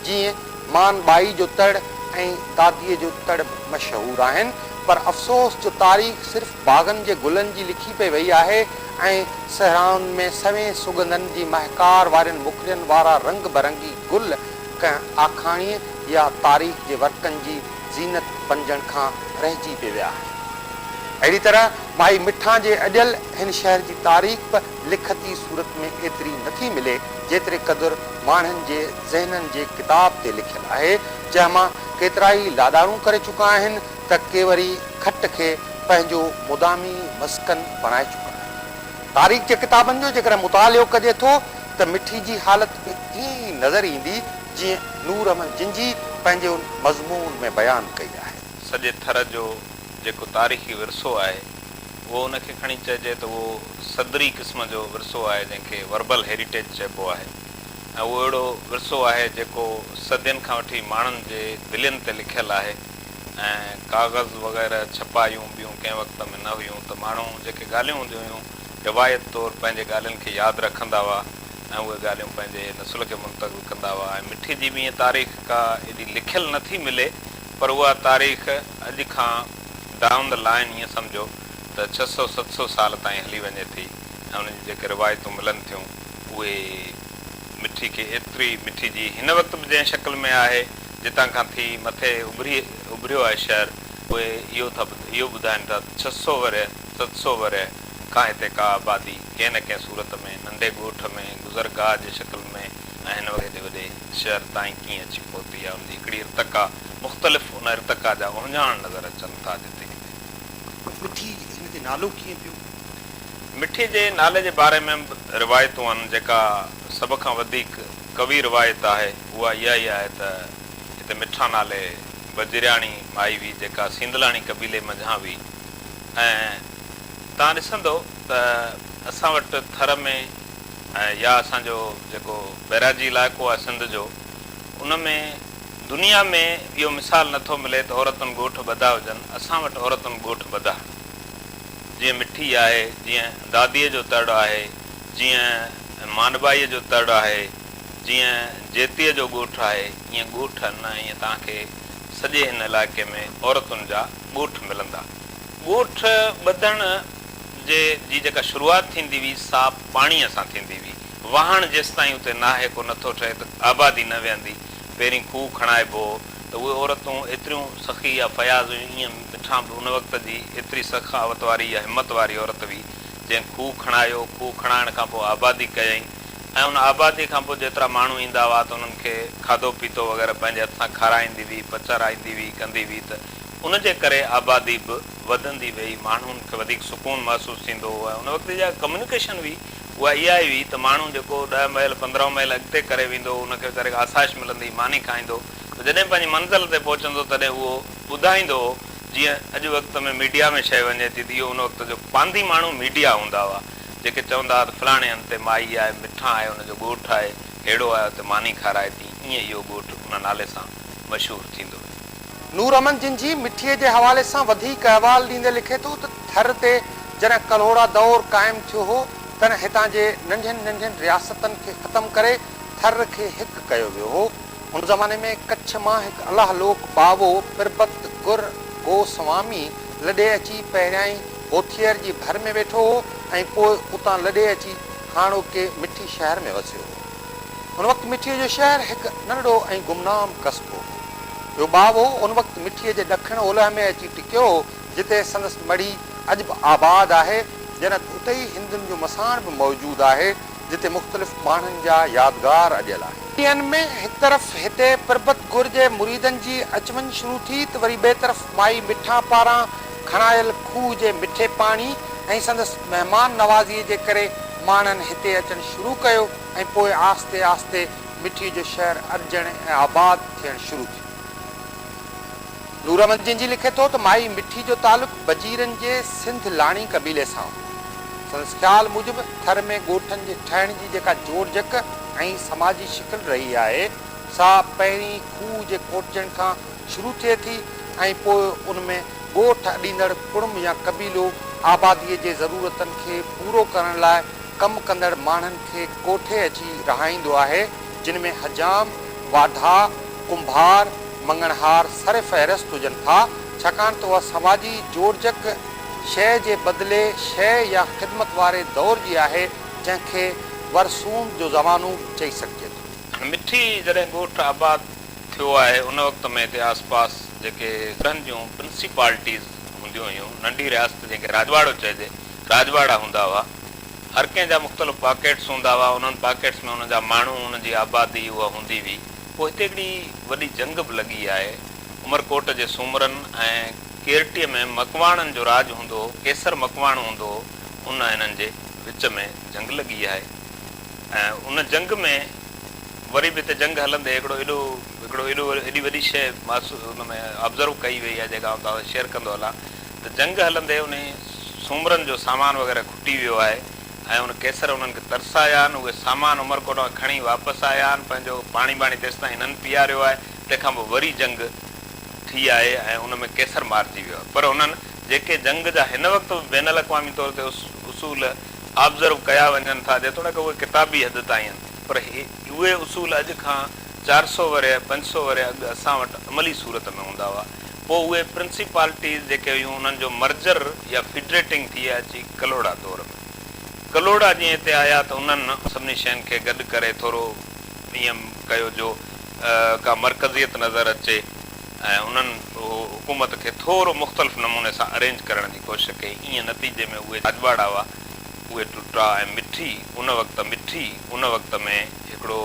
جيئن مان ٻائي جو تڙ ۽ داديء جو تڙ به مشهور آهن، پر افسوس جو تاريخ صرف باغن جي گلن جي لکي پئي وئي آهي ۽ صحرائن ۾ سوين سڳنڌن جي مهڪار وارين مکڙين وارا رنگ برنگي گل ڪنهن آکاڻيء يا تاريخ جي ورقن جي زينت بنجڻ کان رهجي به ويا آهن. اهڙي طرح مائي مٺان جي اڏيل هن شهر جي تاريخ به لکتي صورت ۾ ايتري نه ٿي ملي، جيتري قدر ماڻهن جي ذهنن جي ڪتاب تي لکيل آهي، جنهن مان ڪيترائي لاڏاڻو ڪري چڪا آهن ته ڪي وري کٽ کي پنهنجو مدامي مسڪن بڻائي چڪا آهن. تاريخ جي ڪتابن جو جيڪڏهن مطالعو ڪجي ٿو ته مٺي جي حالت به ائين ئي نظر ايندي، جيئن نور احمد جنجي پنهنجي ان مضمون ۾ بيان ڪئي آهي. سڄي ٿر جو جيڪو تاريخي ورثو آهي اهو ان کي کڻي چئجي ته اهو صدري قسم جو ورثو آهي جنهن کي وربل هيريٽيج چئبو آهي ۽ اهو اهڙو ورثو آهي جيڪو صدين کان وٺي ماڻهن جي دلين تي لکيل آهي ۽ ڪاغذ وغيره ڇپايون ٻيون ڪنهن وقت ۾ نه هيون ته ماڻهو جيڪي ڳالهيون هونديون هيون روايت طور پنهنجي ڳالهين کي ياد رکندا هئا ۽ اهي ڳالهيون پنهنجي نسل کي منتقل ڪندا هئا ۽ مٺي جي به ائين تاريخ ڪا ايڏي لکيل نه ٿي ملي پر اها تاريخ اڄ کان ڊائون دي لائين ائين سمجهو ته ڇهه سؤ ست سؤ سال تائين هلي وڃي ٿي ۽ انهن جون جيڪي روايتون ملن ٿيون اهي مٺي کي ايتري مٺي جي هن وقت به جنهن شڪل ۾ آهي جتان کان ٿي مٿي اڀري اڀريو آهي شهر اهي اهو ٿا اهو ٻڌائين ٿا ته ڇهه سؤ ورهيه ست سؤ ورهيه کان هتي ڪا آبادي ڪنهن نه ڪنهن صورت ۾ ننڍي ڳوٺ ۾ گذرگاهه جي شڪل ۾ ۽ هن وقت هيڏي وڏي شهر تائين ڪيئن اچي پهتي يا ان جي هڪڙي ارتقا مختلف ان ارتقا جا اهڃاڻ نظر اچن ٿا جتي ڪٿي. مٺي هن تي نالو ڪيئن پيو؟ مٺي جي نالي جي باري ۾ به روايتون آهن جيڪا سڀ کان وڌيڪ قوي روايت آهي اها اها ئي آهي ته هتي مٺا نالي بجرياڻي مائي هئي جيڪا سينڌلاڻي قبيلي منجهان هئي ۽ توهان ڏسندؤ ته اسان وٽ ٿر ۾ يا اسان جو جيڪو بئراجي علائقو آهي سنڌ جو ان ۾ دنيا ۾ اهو مثال نه ٿو ملي ته عورتن ڳوٺ ٻڌا هجن اسان وٽ عورتن ڳوٺ ٻڌا آهن جيئن مٺي آهي جيئن داديء جو تڙ آهي جيئن مانڊڀائيء جو تڙ آهي جيئن جيتيء جو ڳوٺ آهي ائين ڳوٺ نه ائين توهان کي سڄي هن علائقي ۾ عورتن جا ڳوٺ ملندا. ڳوٺ ٻڌڻ جي جي جيڪا شروعات ٿيندي هئي سا پاڻيء سان ٿيندي هئي. واهڻ جيستائين اتي ناهي ڪو نٿو ٺهي ته آبادي نه ويهندي. پهرين کوهه کڻائبو هو ته اهي عورتون ايتريون سخي يا فياض هيون ايئن مٺان به ان وقت جي ايتري سخاوت واري يا همت واري عورت هئي جنهن کوهه کڻايو، کوهه کڻائڻ کان پوء آبادي ڪيائين ۽ ان آبادي کان پوء جيترا ماڻهو ايندا هئا ته انهن کي کاڌو پيتو وغيره پنهنجي هٿ سان کارائيندي هئي، پچرائيندي هئي، ڪندي هئي ته ان جي ڪري آبادي به وڌندي ويئي، ماڻهن کي وڌيڪ سڪون محسوس ٿيندو هو ۽ ان وقت جا ڪميونيڪيشن به اها اها ئي هئي ته ماڻهو جيڪو ڏهه ميل پندرهن ميل اڳتي ڪري ويندو هو ان کي ويچاري کي آسائش ملندي هئي ماني کائيندو ته جڏهن پنهنجي منزل تي پهچندو هو تڏهن اهو ٻڌائيندو هو جيئن اڄ وقت ۾ ميڊيا ۾ شئي وڃي ٿي ته اهو ان وقت جو پانڌي ماڻهو ميڊيا هوندا هئا جيڪي چوندا هئا ته فلاڻي هنڌ تي مائي آهي مٺا آهي ان جو ڳوٺ آهي هيڙو آهي اتي ماني کارائي ٿي ائين اهو ڳوٺ ان نالي سان مشهور ٿيندو ويو. نور امن جنجهي مٺيء جي حوالي سان وڌيڪ احوال ڏيندي لکي ٿو ته ٿر تي جڏهن ڪلهوڙا دؤر قائم ٿيو هو، تڏهن هتان جي ننڍين ننڍين رياستن کي ختم ڪري ٿر کي هڪ ڪيو ويو هو. ان زماني ۾ ڪڇ مان هڪ الله لوڪ باوو پربت گر گوسوامي لڏي اچي پهريائين هوٿيئر جي ڀر ۾ ويٺو هو ۽ پوء اتان لڏي اچي هاڻوڪي مٺي شهر ۾ وسيو هو. ان وقت مٺيء جو شهر هڪ ننڍڙو ۽ گمنام قصبو هو. اهو ٻاوهو ان وقت مٺيء جي ڏکڻ اولهه ۾ اچي ٽڪيو هو، جتي سندس مڙهي اڄ به آباد آهي، جنت اتي ئي هندن جو مساڻ به موجود آهي، جتي مختلف ماڻهن جا يادگار اڏيل آهن. ڏينهن ۾ هڪ طرف هتي پربت گر جي مريدن جي اچ وڃ شروع ٿي ته وري ٻئي طرف مائي مٺا پاران کڻايل کوهه جي مٺي پاڻي ۽ سندس مهمان نوازيء جي ڪري ماڻهن هتي اچڻ شروع ڪيو ۽ پوء آهستي آهستي مٺي جو شهر ارجڻ ۽ آباد ٿيڻ شروع ٿيو. نورمل جنجي لکي ٿو ته مائي مٺي جو تعلق بجيرن جي سنڌ لاڻي قبيلي سان هو. سندس خيال موجب ٿر ۾ ڳوٺن جي ٺهڻ جي جيڪا جوڙجڪ ۽ سماجي شڪل رهي آهي، سا پهرين کوهه جي کوٽجڻ کان شروع ٿئي ٿي ۽ پوء ان ۾ ڳوٺ اڏيندڙ ڪڙم يا قبيلو آباديء جي ضرورتن کي پورو ڪرڻ لاء ڪم ڪندڙ ماڻهن کي ڪوٺي اچي رهائيندو آهي، جن ۾ حجام، واڍا، ڪنڀار، مڱڻهار سرفهرست هجن ٿا، ڇاڪاڻ ته اها سماجي جوڙجڪ شيء جي بدلي شيء يا خدمت واري دور جي آهي، جنهن کي ورسوم جو زمانو به چئي سگهجي ٿو. مٺي جڏهن ڳوٺ آباد ٿيو آهي ان وقت ۾ هتي آس پاس جيڪي ڳڙهن جون پرنسيپالٽيز هونديون هيون ننڍي رياست جنهن کي راڄواڙو چئجي راڄواڙا هوندا هئا هر ڪنهن جا مختلف پاڪيٽس هوندا هئا انهن پاڪيٽس ۾ انهن جا ماڻهو انهن جي آبادي اها هوندي هئي پوء هتي هڪڙي وڏي جنگ به لڳي آهي عمرڪوٽ جي سومرن ۽ ڪيرٽي ۾ مڪواڻن جو راڄ هوندو هو ڪيسر مڪواڻو هوندو هو ان هنن جي وچ ۾ جنگ لڳي آهي ۽ ان جنگ ۾ وري به هتي جنگ هلندي هڪڙو ايڏو هڪڙو ايڏو ايڏي وڏي شيء محسو ان ۾ Observe ڪئي وئي آهي جيڪا آئون توهان سان شيئر ڪندو هلان ته جنگ هلندي انهي سومرن جو سامان وغيره کٽي ويو آهي ۽ ان ڪيسر انهن کي ترسايا آهن اهي سامان عمرڪوٽ مان کڻي واپس آيا آهن پنهنجو پاڻي ٻاڻي تيستائين هنن پيئاريو آهي تنهن کان پوء وري جنگ ٿي آهي ۽ ان ۾ ڪيسر مارجي ويو آهي پر هنن جيڪي جنگ جا هن وقت به بين الاقوامي طور تي اصول Observe ڪيا وڃن ٿا جيتوڻيڪ اهي ڪتابي حد تائين پر اهي اصول اڄ کان چار سؤ ورهيه، پنج سؤ ورهيه اڳ اسان وٽ عملي صورت ۾ هوندا هئا. پوء اهي پرنسيپالٽيز جيڪي هيون انهن جو مرجر يا فيڊريٽنگ ٿئي اچي ڪلهوڙا دور ۾. ڪلهوڙا جيئن هتي آيا ته انهن سڀني شين کي گڏ ڪري ٿورو ايئن ڪيو جو ڪا مرڪزيت نظر اچي ۽ انهن حڪومت کي ٿورو مختلف نموني سان ارينج ڪرڻ جي ڪوشش ڪئي. ايئن نتيجي ۾ اهي راڄپاڙا هئا. اهي ٽٽا ۽ مٺي ان وقت مٺي ان وقت ۾ هڪڙو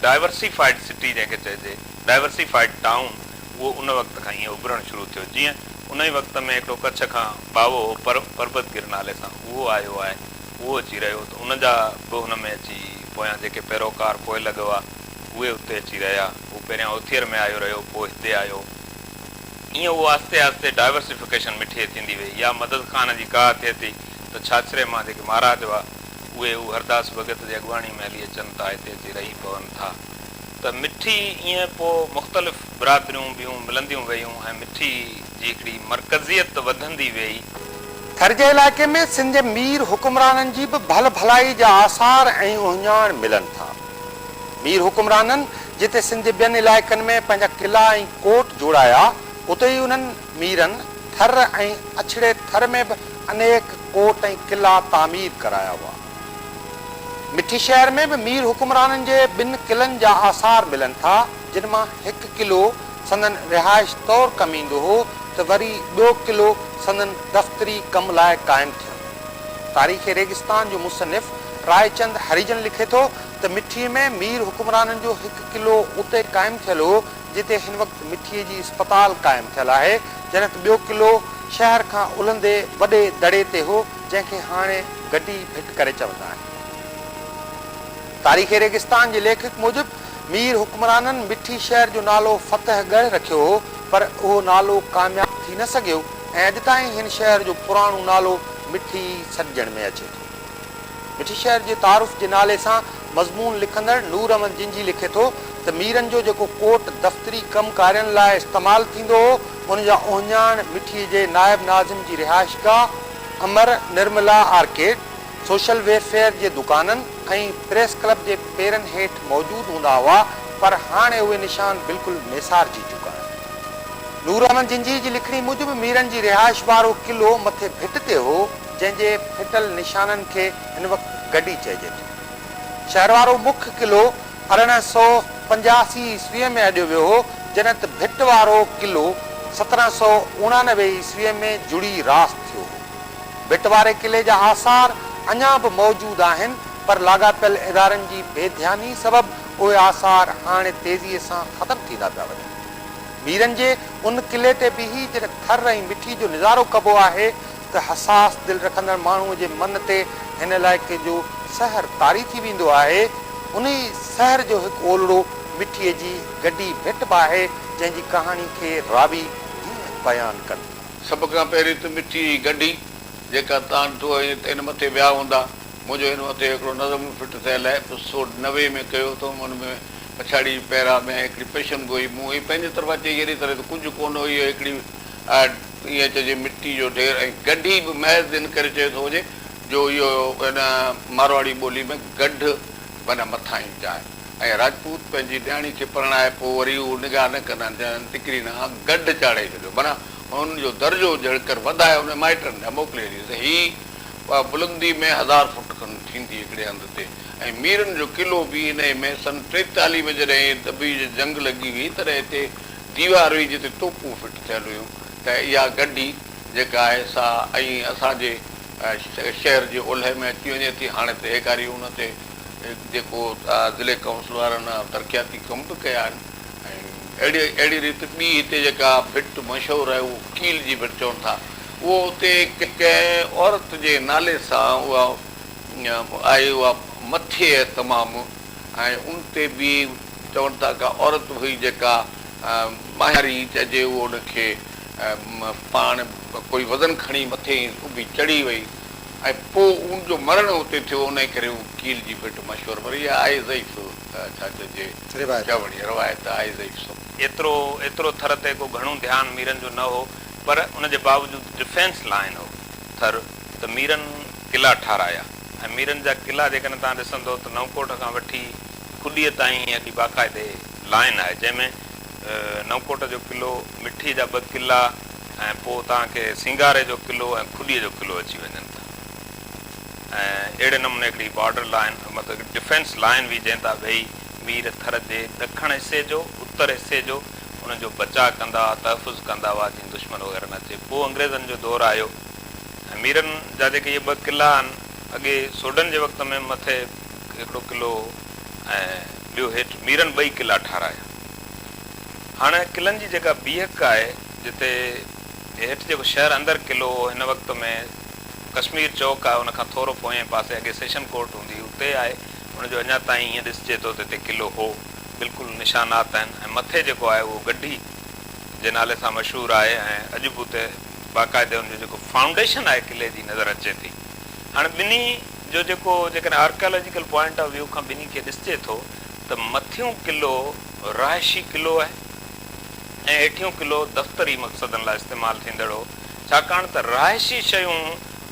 ڊائيورسيفائيڊ سٽي جنهن کي چئجي ڊائيورسيفائيڊ ٽائون اهو ان وقت کان ائين اڀرڻ شروع ٿيو جيئن ان ئي وقت ۾ هڪڙو ڪڇ کان ٻاوهو هو پر پربت گر نالي سان اهو آيو آهي اهو اچي رهيو ته ان جا به ان ۾ اچي پويان جيڪي پيروڪار پوئلڳ هئا اهي اتي اچي رهيا هو پهريان اوٿير ۾ آيو رهيو پوء هتي آيو ايئن اهو آهستي آهستي ڊائيورسيفڪيشن مٺي ٿيندي ويئي يا مدد خان جي ڪاهه ٿئي ٿي ته ڇاڇري مان جيڪي مهاراج هئا اهي هو هرداس ڀڳت جي اڳواڻي ۾ هلي اچن ٿا هتي اچي رهي پون ٿا ته مٺي ايئن پوء مختلف برادريون ٻيون ملنديون ويون ۽ مٺي جي هڪڙي مرڪزيت وڌندي ويئي. ٿر جي علائقي ۾ سنڌ جي مير حڪمرانن جي به ڀل ڀلائي جا آثار ۽ اهڃاڻ ملن ٿا. مير حڪمرانن جتي سنڌ جي ٻين علائقن ۾ پنهنجا قلعا ۽ ڪوٽ جوڙايا، اتي ئي انهن ميرن ٿر ۽ اڇڙي ٿر ۾ به انيڪ ڪوٽ ۽ قلعا تعمير ڪرايا هئا. مٺي شهر ۾ به مير حڪمرانن جي ٻن قلعن جا آثار ملن ٿا، جن مان هڪ قلعو سندن رهائش طور ڪم ايندو هو ته وري ٻيو قلعو سندن دفتري ڪم لاء قائم ٿيو. تاريخ ريگستان جو مصنف راء چند هريجن لکي ٿو ته مٺي ۾ مير حڪمرانن جو هڪ قلعو اتي قائم ٿيل هو جتي هن وقت مٺي جي اسپتال قائم ٿيل آهي جنت ٻيو قلعو شهر کان الهندي وڏي دڙي تي هو جنهن کي هاڻي گڊي ڀٽ ڪري چوندا آهن. تاريخ ريگستان جي ليکڪ موجب مير حڪمرانن مٺي شهر جو نالو فتح ڳڙهه رکيو هو پر اهو نالو ڪامياب ٿي نه سگهيو. ۽ اڄ تائين هن شهر جو پراڻو نالو مٺي سڏجڻ ۾ اچي ٿو. مٺي شهر جي تعارف جي نالي سان مضمون لکندڙ نور احمد جنجهي لکي ٿو ته ميرن جو جيڪو ڪوٽ دفتري ڪم ڪارين لاء استعمال ٿيندو هو، ان جا اهڃاڻ مٺي جي نائب ناظم جي رهائشگاهه Amar Nirmala arcade, social welfare جي دڪانن ۽ پريس ڪلب جي پيرن هيٺ موجود هوندا هئا پر هاڻي اهي نشان بلڪل ميسارجي چڪا آهن. نور احمد جنجهي جي لکڻي موجب ميرن جي رهائش وارو قلعو مٿي ڀٽ تي هو جنهن جي ڦٽل نشانن کي هن وقت گڊي چئجي ٿو. شهر وارو مک قلعو ارڙهن سئو پنجاسي عيسويء ۾ اڏيو ويو هو جڏهن ته ڀٽ وارو قلعو سترهن سئو اڻانوي عيسويء ۾ جڙي راس ٿيو هو. ڀٽ واري قلعي جا آثار اڃا به موجود آهن پر لاڳاپيل ادارن جي بي ڌياني سبب اهي آثار هاڻي تيزيء سان ختم ٿيندا پيا وڃن. ميرن جي ان قلعي تي بيهي جڏهن ٿر ۽ مٺي جو نظارو ڪبو آهي ته حساس دل رکندڙ ماڻهوء جي من تي هن علائقي جو سحر طاري ٿي ويندو آهي. انهيء سحر جو هڪ اولڙو مٺيء جي گڊي ڀٽ به آهي جنهن جي ڪهاڻي کي راوي هيئن بيان ڪن. سڀ کان پهرين ته مٺي هي گنڍي، جيڪا تان ٽوهه ۽ تين مٿي ويا هوندا. منهنجو هن مٿي هڪڙو نظم به فٽ ٿيل آهي، ايپسوڊ نوي ۾ ڪيو اٿم، ان ۾ پڇاڙيء جي پيرا ۾ هڪڙي پيشن گوئي مون هي پنهنجي طرفان چئي اهڙي طرح ته ڪجهه ڪونه هو اهو هڪڙي ائين چئجي مٽي جو ڍير ۽ گنڍي به محض ان ڪري چيو ٿو وڃي جو اهو هن مارواڙي ٻولي ۾ گنڍ معنيٰ مٿانهين جاء ۽ راجپوت پنهنجي نياڻي کي پرڻائي پوء وري هو نگاهه نه ڪندا آهن جنهن ٽڪري نانء گڏ چاڙهي ڇڏيو معنيٰ هن جو درجو جهڙڪر وڌائي ان جي مائٽن ڏانهن موڪلي ڏي ته هي اها بلندي ۾ هزار فوٽ کن ٿيندي هڪڙي هنڌ تي ۽ ميرن جو قلعو به انهيء ۾ سن ٽيتاليهه ۾ جڏهن دبي جي جنگ لڳي هئي تڏهن هتي ديوار هئي جتي توپون فٽ ٿيل هيون ته اها گڍي جيڪا آهي سا ائين اسان جي شهر جي اولهه ۾ اچي وڃي ٿي هاڻي ته هيڪاري ان تي جيڪو ضلعي ڪائونسل وارن ترقياتي ڪم به ڪيا آهن ۽ اهڙي ريت ٻي هتي جيڪا ڀٽ مشهور آهي اهو ڪيل جي ڀٽ چون ٿا اهو اتي ڪنهن عورت جي نالي سان اها آهي اها مٿي تمام ۽ ان تي به چون ٿا ڪا عورت هئي جيڪا ماهياري چئجي اهو ان کي پاڻ ڪوئي وزن کڻي مٿي اڀي چڙهي وئي ۽ پوء اون جو مرڻ اتي ٿيو انهيء ڪري اون ڪيل جي ڀٽ مشهور پر اها آهي ضعيف ڇا چئجي چوڻي، روايت آهي ضعيف سو. ايترو ايترو ٿر تي ڪو گهڻو ڌيان ميرن جو نه هو پر ان جي باوجود ڊفينس لائين هو ٿر ته ميرن قلعا ٺاهرايا ۽ ميرن جا قلعا جيڪڏهن توهان ڏسندو ته نئونڪوٽ کان وٺي کڏيء تائين هيء هڪڙي باقاعدي لائين آهي جنهن ۾ نئونڪوٽ جو قلعو، مٺيء جا ٻه قلعا ۽ پوء توهان کي سينگاري جو قلعو ۽ کڏيء جو قلعو اچي وڃن ٿا ۽ اهڙي نموني هڪڙي بارڊر لائين مطلب هڪڙي ڊفينس لائين هئي جنهن تان ويهي مير ٿر جي ڏکڻ حصي جو، اتر حصي جو ان جو بچاء ڪندا هئا، تحفظ ڪندا هئا جيئن دشمن وغيره نه اچي. پوء انگريزن جو دور آيو ۽ ميرن جا جيڪي اهي ٻه قلعا آهن، اڳي سوڍن جي وقت ۾ مٿي هڪڙو قلعو هو ۽ ٻيو هيٺ، ميرن ٻئي قلعا ٺارايا. هاڻ قلعن جي جيڪا بيهڪ آهي جتي هيٺ جيڪو شهر اندر قلعو هو هن وقت ۾ ڪشمير چوڪ آهي ان کان ٿورو پوئين پاسي اڳي سيشن ڪورٽ هوندي هئي اتي آهي ان جو اڃا تائين ائين ڏسجي ٿو ته هتي قلعو هو بلڪل نشانات آهن ۽ مٿي جيڪو آهي اهو گڍي جي نالي سان مشهور آهي ۽ اڄ به اتي باقاعدي ان جو جيڪو فائونڊيشن آهي قلعي جي نظر اچي ٿي هاڻ ٻنهي جو جيڪو جيڪڏهن آرڪيالاجيڪل پوائنٽ آف ويو کان ٻنهي کي ڏسجي ٿو ته مٿيون قلعو رهائشي قلعو آهي ۽ هيٺيون قلعو دفتري مقصدن لاء استعمال ٿيندڙ هو، ڇاڪاڻ ته رهائشي شيون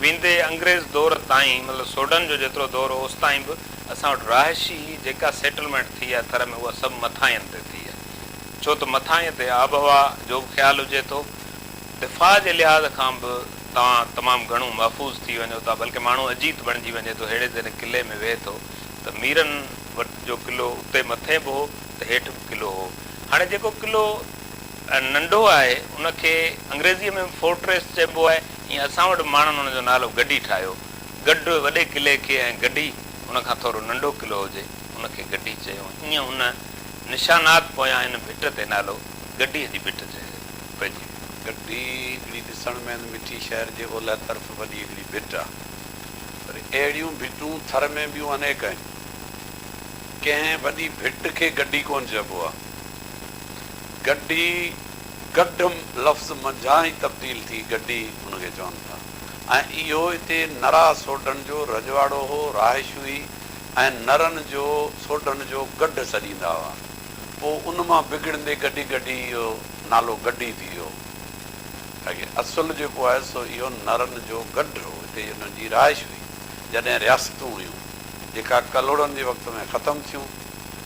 ويندي انگريز دور تائين مطلب سوڍن جو جيترو دور هو اوستائين به اسان وٽ رهائشي جيڪا سيٽلمينٽ ٿي آهي ٿر ۾ اها سڀ مٿاهين تي ٿي آهي ڇو ته مٿاهين تي آب هوا جو به خيال هجي ٿو، دفاع جي لحاظ کان به توهان تمام گهڻو محفوظ ٿي وڃو ٿا بلڪه ماڻهو اجيت بڻجي وڃي ٿو ههڙي ذري قلعي ۾ ويهي ٿو ته ميرن وٽ جو قلعو اتي مٿي به هو ته هيٺ به قلعو هو. هاڻي جيڪو قلعو ۽ ننڍو آهي ان کي انگريزيء ۾ به فورٽريس چئبو آهي ۽ اسان وٽ ماڻهن ان جو نالو گڍي ٺاهيو. گڍ وڏي قلعي کي ۽ گڍي ان کان ٿورو ننڍو قلعو هجي ان کي گڍي چيو ۽ ايئن ان نشانات پويان ان ڀٽ تي نالو گڍيء جي ڀٽ پئجي ويو. گڍي هڪڙي ڏسڻ ۾ هن مٺي شهر جي اولهه طرف وڏي هڪڙي ڀٽ آهي. پر اهڙيون ڀٽون ٿر ۾ ٻيون انيڪ آهن. ڪنهن وڏي ڀٽ کي گڊي ڪونه چئبو آهي. گڊي گڊ لفظ منجهان ئي تبديل ٿي گڊي ان کي چون ٿا ۽ اهو اتي نرا سوڍن جو رجواڙو هو، رهائش هئي ۽ نرن جو سوڍن جو گڍ سڏيندا هئا. پوء ان مان بگڙندي گڏي گڏي اهو نالو گڊي ٿي ويو. اڳي اصل جيڪو آهي سو اهو نرن جو گڍ هو، هتي ئي انهن جي رهائش هئي. جڏهن رياستون هيون، جيڪا ڪلهوڙن جي وقت ۾ ختم ٿيون،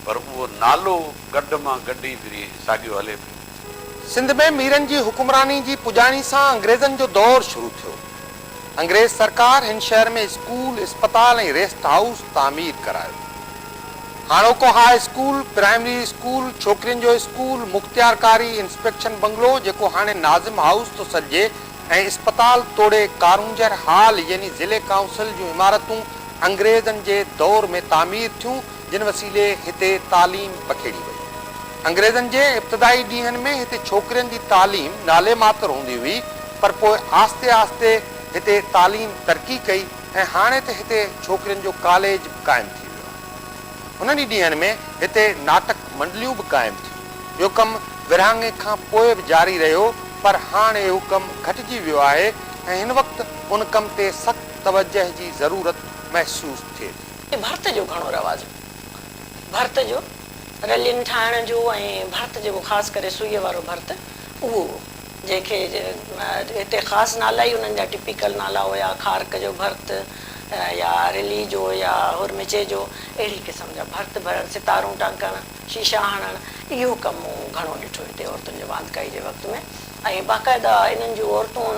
پر اهو نالو گڍ مان گڍي ڦري ساڳيو هلي پيو. سنڌ ۾ ميرن جي حڪمراني جي پڄاڻي سان انگريزن جو دور شروع ٿيو. انگريز سرڪار هن شهر ۾ اسڪول، اسپتال ۽ ريسٽ هائوس تعمير ڪرايو. هاڻوڪو هاء اسڪول، پرائمري اسڪول، ڇوڪرين جو اسڪول، مختيار ڪاري انسپيڪشن بنگلو جيڪو هاڻي ناظم هائوس ٿو سڏجي ۽ اسپتال توڙي ڪارونجهر هال يعني ضلعي ڪائونسل جون عمارتون انگريزن جي دور ۾ تعمير ٿيون جن وسيلي هتي تعليم پکيڙي وئي. انگريزن جي ابتدائي ڏينهن ۾ هتي ڇوڪرين جي تعليم نالي ماتر هوندي هئي پر پوء آهستي آهستي هتي تعليم ترقي ڪئي ۽ هاڻي ته هتي ڇوڪرين جو ڪاليج به قائم ٿي ويو آهي. هنن ئي ڏينهن ۾ هتي ناٽڪ منڊليون به قائم ٿيون. اهو ڪم ورهاڱي کان پوء به جاري رهيو پر هاڻ اهو ڪم گهٽجي ويو آهي ۽ هن وقت ان ڪم تي سخت توجهه جي ضرورت محسوس ٿئي ٿي. ۾ ڀرت جو گهڻو رواج هو. ڀرت جو رلين ٺاهڻ جو ۽ ڀرت جيڪو خاص ڪري سوئيء وارو ڀرت اهو هو جنهن کي هتي خاص نالا ئي انهن جا ٽپيڪل نالا هيا کارڪ جو ڀرت يا رلي جو يا هورمچي جو اهڙي قسم جا ڀرت ڀرڻ ستارون ٽانڪڻ شيشا هڻڻ اهو ڪم مون گهڻو ڏٺو هتي عورتن جو واندڪائي جي وقت ۾ ۽ باقاعده انهن جون عورتون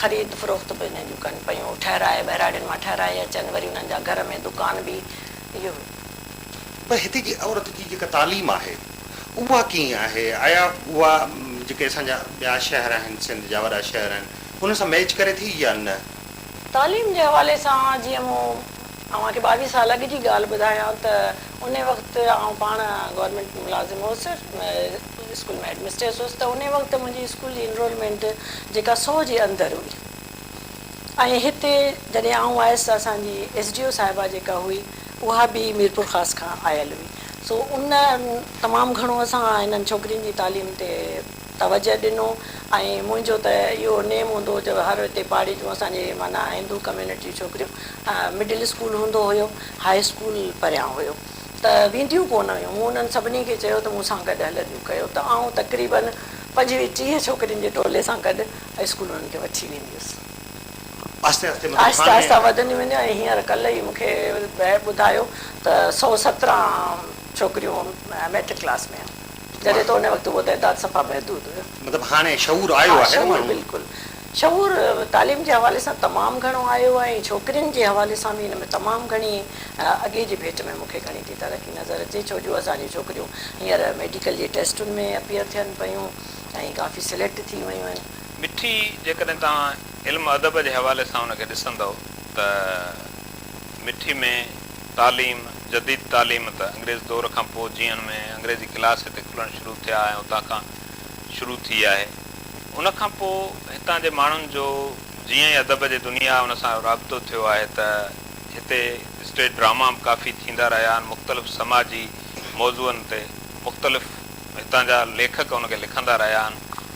خريد فروخت به انهن جون ڪن پيون، ٺهرائي ٻهراڙين مان ٺهرائي اچن، وري انهن جا گهر ۾ دڪان به اهو هو. پر هتي جي عورت جي جيڪا تعليم آهي اها ڪيئن آهي؟ آيا اها جيڪي اسان جا ٻيا شهر آهن، سنڌ جا وڏا شهر آهن، انهن سان ميچ ڪري ٿي يا نه؟ تعليم جي حوالي سان جيئن مون اوهان کي ٻاويهه سال اڳ جي ڳالهه ٻڌايان ته، انهي وقت آئون پاڻ گورنمينٽ ملازم هوس اسڪول ۾ هيڊ مسٽريس هوس ته انهي وقت منهنجي اسڪول جي انرولمينٽ جيڪا سو جي اندر هئي ۽ هتي جڏهن آئون آيس ته اسان جي ايس ڊي او صاحبه جيڪا هئي اها به ميرپورخاص کان آيل هئي سو ان تمام گهڻو اسان هنن ڇوڪرين جي تعليم تي توجه ڏنو ۽ منهنجو ته اهو نيم هوندو جو هر هتي پاڙي جون اسان جي معنيٰ هندو ڪميونٽي جون ڇوڪريون مڊل اسڪول هوندو هيو هاء اسڪول پريان هيو ته وينديون ڪونه هيون مون انهن سڀني کي چيو ته مون سان گڏ هلنديون ڪيو ته آئون تقريباً پنجويهه ٽيهه ڇوڪرين جي ٽولي سان گڏ اسڪول انهن کي وٺي ويندي هيس. آهستي آهستي مطلب آهستي هاڻي آهستي وڌنديون وينديون ۽ هينئر ڪلهه ئي مون کي بيهه ٻڌايو ته سؤ سترهن ڇوڪريون ميٽرڪ ڪلاس ۾ آهن. جڏهن ته ان وقت اهو تعداد صفا محدود هيو. مطلب هاڻي شعور آيو آهي نه ماڻهن ۾. ها شعور بلڪل. شعور تعليم جي حوالي سان تمام گهڻو آيو آهي ۽ ڇوڪرين جي حوالي سان به ان ۾ تمام گهڻي اڳي جي ڀيٽ ۾ مون کي گهڻي ٿي ترقي نظر اچي ڇو جو اسان جون ڇوڪريون هينئر ميڊيڪل جي ٽيسٽن ۾ اپيئر ٿين پيون ۽ ڪافي سليڪٽ ٿي ويون آهن. مٺي جيڪڏهن توهان علم ادب جي حوالي سان ان کي ڏسندؤ ته مٺي ۾ تعليم، جديد تعليم ته انگريز دور کان پوء جيئن ۾ انگريزي ڪلاس هتي کلڻ شروع ٿيا ۽ اتان کان شروع ٿي آهي. ان کان پوء هتان جي ماڻهن جو جيئن ئي ادب جي دنيا ان سان رابطو ٿيو آهي ته هتي اسٽيج ڊراما به ڪافي ٿيندا رهيا آهن، مختلف سماجي موضوعن تي مختلف هتان جا ليکڪ ان کي لکندا رهيا آهن،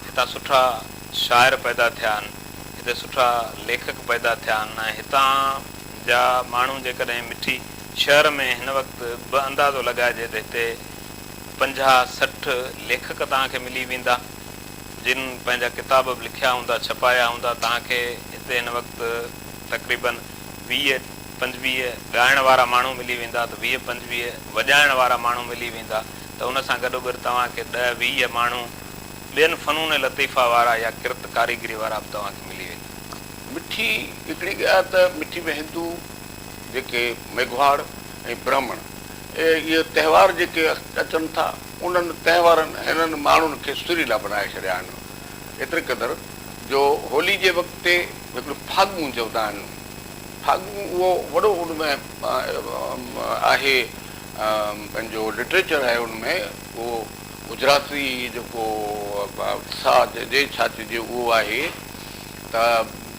هتان سٺا شاعر پيدا ٿيا آهن. هتي سٺا ليکڪ پيدا ٿيا آهن ۽ هتان جا ماڻهو جيڪڏهن مٺي شهر ۾ هن وقت به اندازو لڳائجي ته هتي پنجاهه سٺ ليکڪ توهان کي ملي ويندا جن پنهنجا ڪتاب به لکيا هوندا ڇپايا هوندا توهان کي هتي هن وقت تقريباً ويهه پنجويهه ڳائڻ وارا ماڻهو ملي ويندا ته ويهه پنجويهه وڄائڻ وارا ماڻهو ملي ويندا ته ان سان گڏوگڏ توهان کي ڏهه ويهه ماڻهو ٻين فنون لطيفه وارا يا ڪرت ڪاريگري وارا به توهان کي ملي ويندا. مٺي، هڪڙي ڳالهه ته مٺي ۾ هندو جيڪي ميگهواڙ ۽ برهمڻ اهي تهوار جيڪي اچن ٿا انهن تهوارن هنن ماڻهن کي سريلا بنائي ڇڏيا آهن ايتري قدر جو هولي جي وقت تي هڪڙيون ڦاڳون چوندا آهن ڦاڳون اهو وڏو ان ۾ آهي پنهنجو لٽريچر آهي ان ۾ اهو گجراتي جيڪو ساهه جي ڇا چئجي اهو آهي ته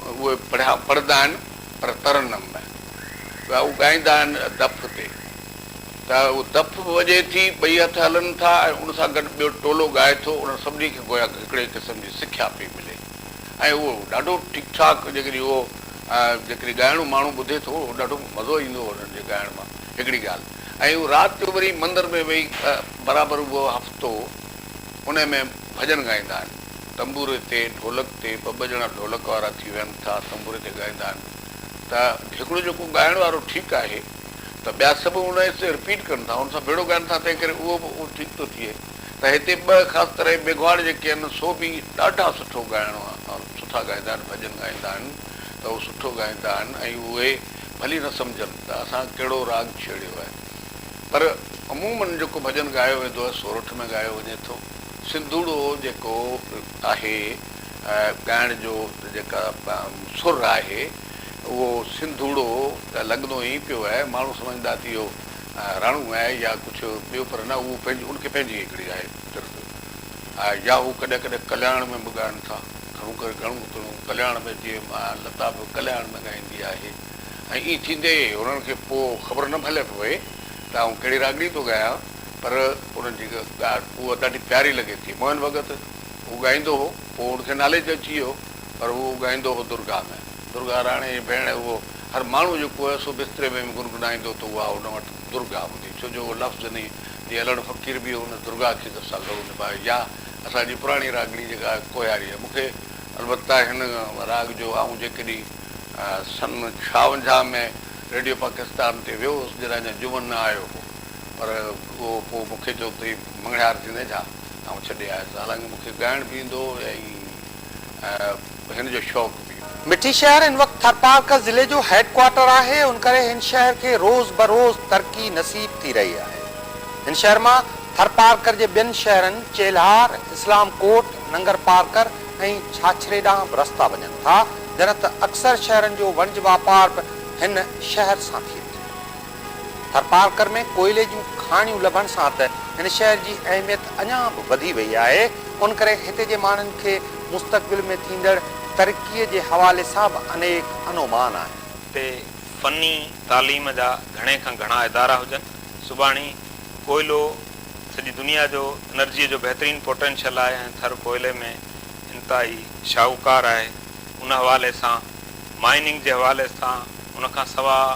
اهي پڙهيا پڙهندا آهن پر ترنم ۾ ٻيا اهو ڳائيندا آهن دف تي ته اهو دف به وڄي ٿي ٻئي هٿ هلن ٿا ۽ ان سان گڏ ٻيو ٽولو ڳائي ٿو انهن سڀني کي گويا هڪڙي قسم جي سکيا پئي ملي ۽ اهو ڏاڍو ٺيڪ ٺاڪ جيڪڏهن اهو جيڪڏهن ڳائڻو ماڻهو ٻڌي ٿو اهو ڏاڍو مزو ايندو انهن جي ڳائڻ مان هڪڙي ڳالهه ۽ هو رات جو وري مندر ۾ ويهي برابر اهو هفتو انهي ۾ ڀڄن ڳائيندا آهن. تنبوري تي، ڍولڪ تي، ٻه ٻه ڄڻا ڍولڪ وارا ٿي ويهن ٿا، تنبوري تي ڳائيندا آهن ته هڪڙو جيڪو ڳائڻ وارو ٺيڪ آهي ته ٻيا سڀ ان حصي کي رپيٽ ڪن ٿا، ان سان ڀيڙو ڳائن ٿا تنهن ڪري اهو به ٺيڪ ٿو ٿئي ته هتي ٻه خاص طرح جي ميگهواڙ جيڪي آهن سو به ڏاڍا سٺو ڳائڻ سٺا ڳائيندا آهن، ڀڄن ڳائيندا آهن ته اهو سٺو ڳائيندا آهن ۽ اهي ڀلي نه سمجهن ته اسان ڪهڙو راڳ ڇيڙيو آهي پر عمومن جيڪو ڀڄن ڳايو ويندو آهي سورٺ ۾ ڳايو وڃي ٿو. سنڌوڙو جيڪو آهي ڳائڻ جو جيڪا سر آهي اهو سنڌوڙو ته لڳندو ائين پيو آهي ماڻهو سمجهندا ته اهو راڻو آهي يا ڪجهه ٻيو پر نه اهو ان کي پنهنجي هڪڙي آهي ترت يا هو ڪڏهن ڪڏهن ڪلياڻ ۾ به ڳائن ٿا. گهڻو ڪري گهڻو تڻو ڪلياڻ ۾ جيئي ماء لتا به ڪلياڻ ۾ ڳائيندي آهي ۽ ائين ٿيندي هنن کي پوء خبر نه ڀلي پوي ته آئون ڪهڙي راڳڻي ٿو ڳايان پر انهن جي ڳالهه اها ڏاڍي پياري لڳي ٿي موهن ڀڳت هو ڳائيندو هو پوء هن کي ناليج اچي ويو پر هو ڳائيندو هو درگاهه ۾ درگاهه راڻي جي ڀيڻ اهو هر ماڻهو جيڪو هو سو بستري ۾ به گنگنائيندو ته اها ان وٽ درگاهه هوندي ڇو جو اهو لفظ ني جي الهڙ فقير به هن درگاهه کي درساندو هو نڀاء يا اسان جي پراڻي راڳڻي جيڪا آهي ڪوهياري آهي. مون کي البته هن راڳ جو آئون جيڪڏهن سن ڇاونجاهه ۾ ريڊيو پاڪستان تي ويو هوس جڏهن اڃا جهومن نه آيو هو پر اهو پوء مون کي چيو ته هي مڱڻهار ٿيندين ڇا؟ آئون ڇڏي آيس حالانڪه مون کي ڳائڻ به ايندو هو ۽ هن جو شوق به. مٺي شهر هن وقت ٿرپارڪر ضلعي جو هيڊ ڪوارٽر آهي، ان ڪري هن شهر کي روز بروز ترقي نصيب ٿي رهي آهي. هن شهر مان ٿرپارڪر جي ٻين شهرن چيلهار، اسلام ڪوٽ، ننگرپارڪر ۽ ڇاڇري ڏانهن به رستا وڃن ٿا، جڏهن ته اڪثر شهرن جو وڻج واپار به هن شهر سان ٿئي ٿو. ٿرپارڪر ۾ ڪوئلي جون کاڻيون لڀڻ سان ته هن شهر جي اهميت اڃا به وڌي وئي آهي، ان ڪري هتي جي ماڻهن کي مستقبل ۾ ٿيندڙ ترقيء جي حوالي سان به انيڪ انومان آهن. هتي فني تعليم جا گهڻي کان گهڻا ادارا هجن. سٻاهڻي ڪوئلو سڄي دنيا جو انرجيء جو بهترين پوٽينشل آهي ۽ ٿر ڪوئلي ۾ انتهائي شاهوڪار آهي. ان حوالي سان مائننگ جي حوالي سان ان کان سواء،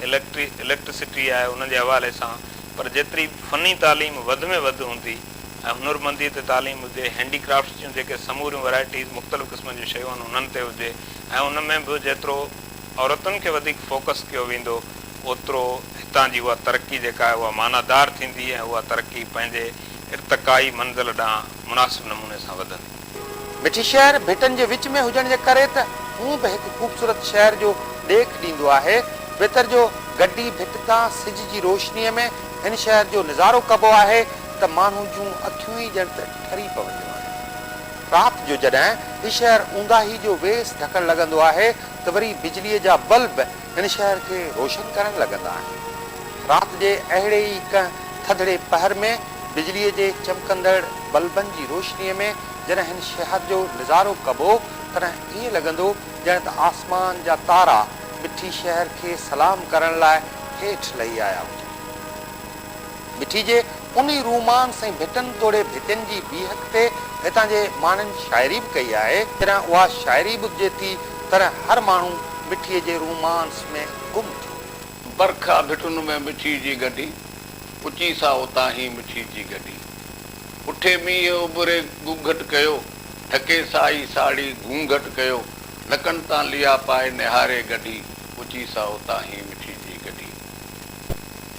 اليڪٽري اليڪٽرسٽي آهي ان جي حوالي سان پر جيتري فني تعليم وڌ ۾ وڌ هوندي ۽ هنرمندي تي تعليم هجي هينڊي ڪرافٽس جون جيڪي سموريون ورايٽيز مختلف قسمن جون شيون آهن انهن تي هجي ۽ ان ۾ به جيترو عورتن کي وڌيڪ فوڪس ڪيو ويندو اوترو هتان جي اها ترقي جيڪا آهي اها معنيٰ دار ٿيندي ۽ اها ترقي پنهنجي ارتقائي منزل ڏانهن مناسب نموني سان وڌندي. مٺي شهر ڀٽن جي وچ ۾ هجڻ جي ڪري ته هونء به هڪ خوبصورت شهر جو ڏيک ڏيندو آهي. ويتر جو گڊي ڀٽ تان سج جي روشنيء ۾ هن شهر جو نظارو ڪبو آهي ته ماڻهو جون اکيون ئي ڄڻ ته ٺري پونديون آهن. رات جو جڏهن هي شهر اونداهي جو ويس ڍڪڻ لڳندو آهي ته وري بجليء جا بلب هن شهر کي روشن ڪرڻ لڳندا آهن. رات جي اهڙي ئي ڪنهن ٿڌڙي پهر ۾ بجليء جي چمڪندڙ بلبن جي روشنيء ۾ جڏهن هن شهر جو نظارو ڪبو، تڏهن ائين لڳندو ڄڻ ته آسمان جا تارا مٺي شهر کي سلام ڪرڻ لاء هيٺ لهي آيا هجن. مٺي جي انهي روح مان سائين ڀٽن توڙي ڀتين جي بيهڪ تي هتان جي ماڻهن شاعري به ڪئي آهي، تڏهن اها شاعري به جيتي طرح هر ماڻهو مٺي جي رومانس ۾ گم ٿيو ويو. برکا ڀٽن ۾ مٺي جي گڏي، پچي سا اتان هي مٺي جي گڏي. اٺي مينهن اٻري گهوگهٽ ڪيو، ڍڪي سائي ساڙهي گهونگهٽ ڪيو، نڪن تان ليا پائي نهاري گڏي، پچي سا اتان هي مٺي جي گڏي.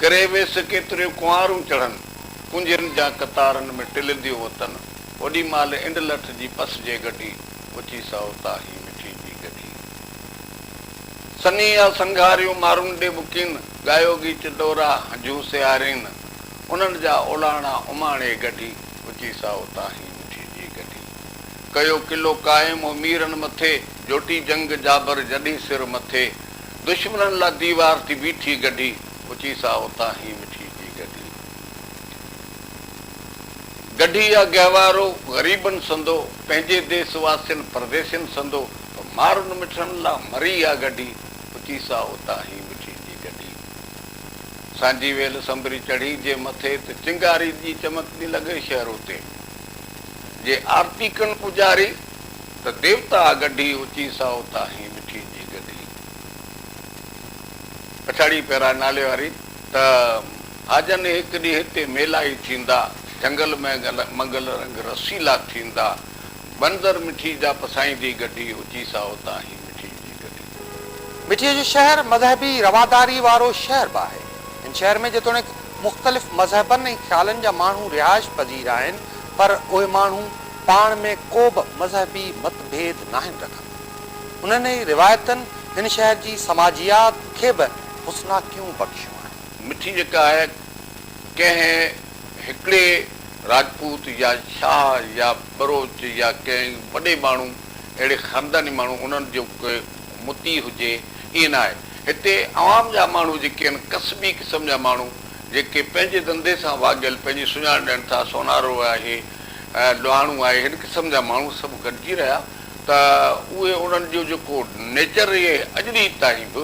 ڪري ويس ڪيتريون ڪنوارون چڙهن، ڪنجين جا قطارن ۾ ٽلنديون وتن، اوڏي مهل انڊ لٺ جي پس جي گڍي، اچي سائو تاهي مٺي جي گڍي. سني آ سنگهاريون مارون ڏي ٻڪين، ڳايو ڳيچ ڏورا هنجون سيارين، انهن جا اولاڻا اماڻي گڍي، اچي سائو تاهي مٺي جي گڍي. ڪيو قلعو قائم هو ميرن مٿي، جوٽي جنگ جابر جڏهين سر مٿي، دشمنن لا ديوار ٿي بيٺي گڍي اچي سا اتان هي مٺي جي گڍي گڍي آ گهوارو غريبن سندو پنهنجي ديس واسين پرديسين سندو ته مارن مٺن لا مري آ گڍي اچي سا اتان هي مٺي جي گڍي سانجي ويل سنبري چڙهي جي مٿي ته چنگاري جي چمڪندي لڳي شهرو تي جي آرتي ڪن پوڄاري. ته ديوتا ڳڍي اچي سائو تاهين مٺي جي گڏهي. پڇاڙي پيرا نالي واري ته هاجن هڪ ڏينهن هتي ميلائي ٿيندا جهنگل ۾ منگل رنگ رسيلا ٿيندا بندر مٺي جا پسائيندي ڳڍي اچي سائو تاهين مٺي جي گڏهي. مٺي جو شهر مذهبي رواداري وارو شهر به آهي. هن شهر ۾ جيتوڻيڪ مختلف مذهبن ۽ خيالن جا ماڻهو رهائش پذير آهن پر اهي ماڻهو. پاڻ ۾ ڪوبه مذهبي مت ڀيد ناهن رکندا. انهن ئي روايتن هن شهر جي سماجيات کي به حسناڪيون بخشيون آهن. مٺي جيڪا آهي ڪنهن هڪڙي راجپوت يا شاهه يا ٻروچ يا ڪنهن وڏي ماڻهو اهڙي خانداني ماڻهو انهن جو ڪي مطيع هجي ائين ناهي. هتي عوام جا ماڻهو جيڪي آهن ڪسبي قسم جا ماڻهو جيڪي پنهنجي ڌنڌي سان واڳيل پنهنجي سڃاڻ ڏين ٿا سونارو آهي ڏاهڻو آهي هن قسم جا ماڻهو سڀ گڏجي رهيا ته اهي انهن جو جيڪو نيچر رهي اڄ ڏينهن تائين به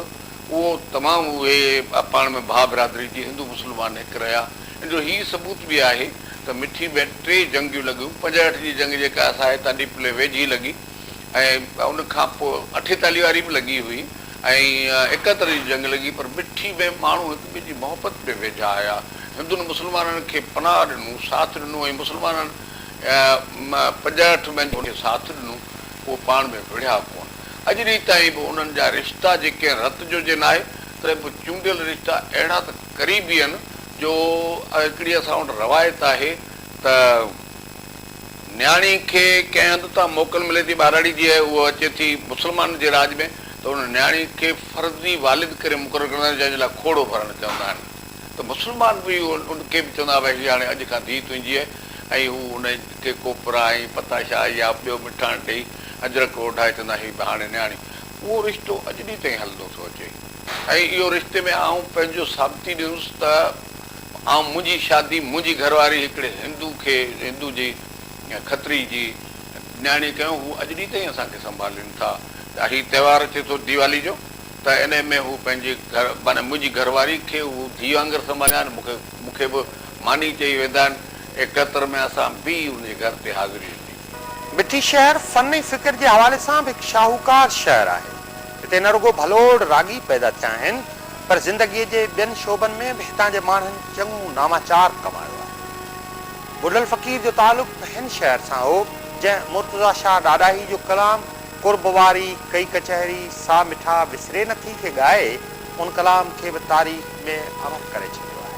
اهو تمام اهي پاڻ ۾ ڀاء برادري جي هندو مسلمان هڪ رهيا ان جو هي ثبوت به آهي ته مٺي ۾ ٽي جنگيون لڳيون پنجهٺ جي جنگ جيڪا اسان هتان ڏيپلي ويجهي لڳي ۽ ان کان پوء اٺيتالهيء واري به لڳي هئي ۽ ايڪهتر جي جنگ لڳي پر مٺي ۾ ماڻهو هڪ ٻئي جي محبت ۾ ويجها آيا. هندن مسلمانن کي پناهه ڏنو، ساٿ ڏنو ۽ مسلمانن پنجهٺ ۾ جن کي ساٿ ڏنو، اهي پاڻ ۾ وڙهيا ڪونه. اڄ ڏينهن تائين به انهن جا رشتا جي ڪنهن رت جو جي ناهي، تڏهن به چونڊيل رشتا اهڙا ته قريبي آهن جو هڪڙي اسان وٽ روايت آهي ته، نياڻي کي ڪنهن هنڌ تان موڪل ملي ٿي ٻهراڙي جي ۽ هوء اچي ٿي مسلمانن جي راڄ ۾ ته ان نياڻي کي فرضي والد ڪري مقرر ڪندا آهن جنهن جي لاء کوڙو ڀرڻ چوندا آهن ته مسلمان به ان کي به چوندا آهن ڀاء هي هاڻي اڄ کان ڌيء تنهنجي آهي ۽ هو ان کي ڪوپرا ۽ پتاشا يا ٻيو مٺاڻ ڏيئي اجرڪ اوڍائي چوندا آهن هي به هاڻي نياڻي اهو رشتو اڄ ڏينهن تائين هلندو ٿو اچي ۽ اهو رشتي ۾ آئون پنهنجو ثابتي ڏيندس ته آئون منهنجي شادي منهنجي گهر واري هڪڙي هندو کي هندو جي کتري جي نياڻي ڪيو هو اڄ ڏينهن تائين اسان کي سنڀالين ٿا ته هي تهوار اچي ٿو ديوالي جو ته انهي ۾ هو پنهنجي گهر معنيٰ منهنجي گهر واري کي هو ڌيء وانگر سنڀاليا آهن مون کي مون کي به ماني چئي ويندا آهن ايڪهتر ۾ اسان به ان جي گهر تي حاضري هوندي. مٺي شهر فن ۽ فڪر جي حوالي سان به هڪ شاهوڪار شهر آهي هتي نه رڳو ڀلوڙ راڳي پيدا ٿيا آهن پر زندگيء جي ٻين شعبن ۾ به هتان جي ماڻهن چڱو ناماچار ڪمايو آهي. بلبل فقير جو تعلق به هن شهر سان هو، جنهن مرتضيٰ شاهه ڏاڏاهي جو ڪلام قرب واري ڪئي ڪچهري سا مٺا وسري نٿي کي ڳائي، ان ڪلام کي به تاريخ ۾ امر ڪري ڇڏيو آهي.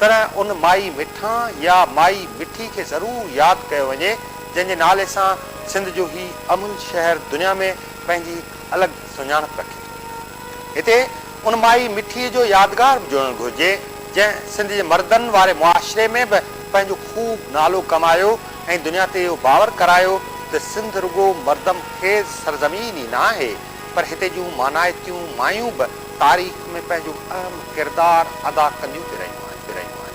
طرح ان مائي مٺان يا مائي مٺي کي ضرور ياد ڪيو وڃي، جنهن جي نالي سان سنڌ جو هي امن شهر دنيا ۾ پنهنجي هڪ الڳ سڃاڻپ رکي ٿو. هتي ان مائي مٺي جو يادگار به جوڙڻ گهرجي، جنهن سنڌ جي مردن واري معاشري ۾ به پنهنجو خوب نالو ڪمايو ۽ دنيا تي اهو باور ڪرايو ته سنڌ رڳو مردم خيز سرزمين ئي ناهي، پر هتي جون مانائتيون مايون به تاريخ ۾ پنهنجو اهم ڪردار ادا ڪنديون پي رهيون آهن.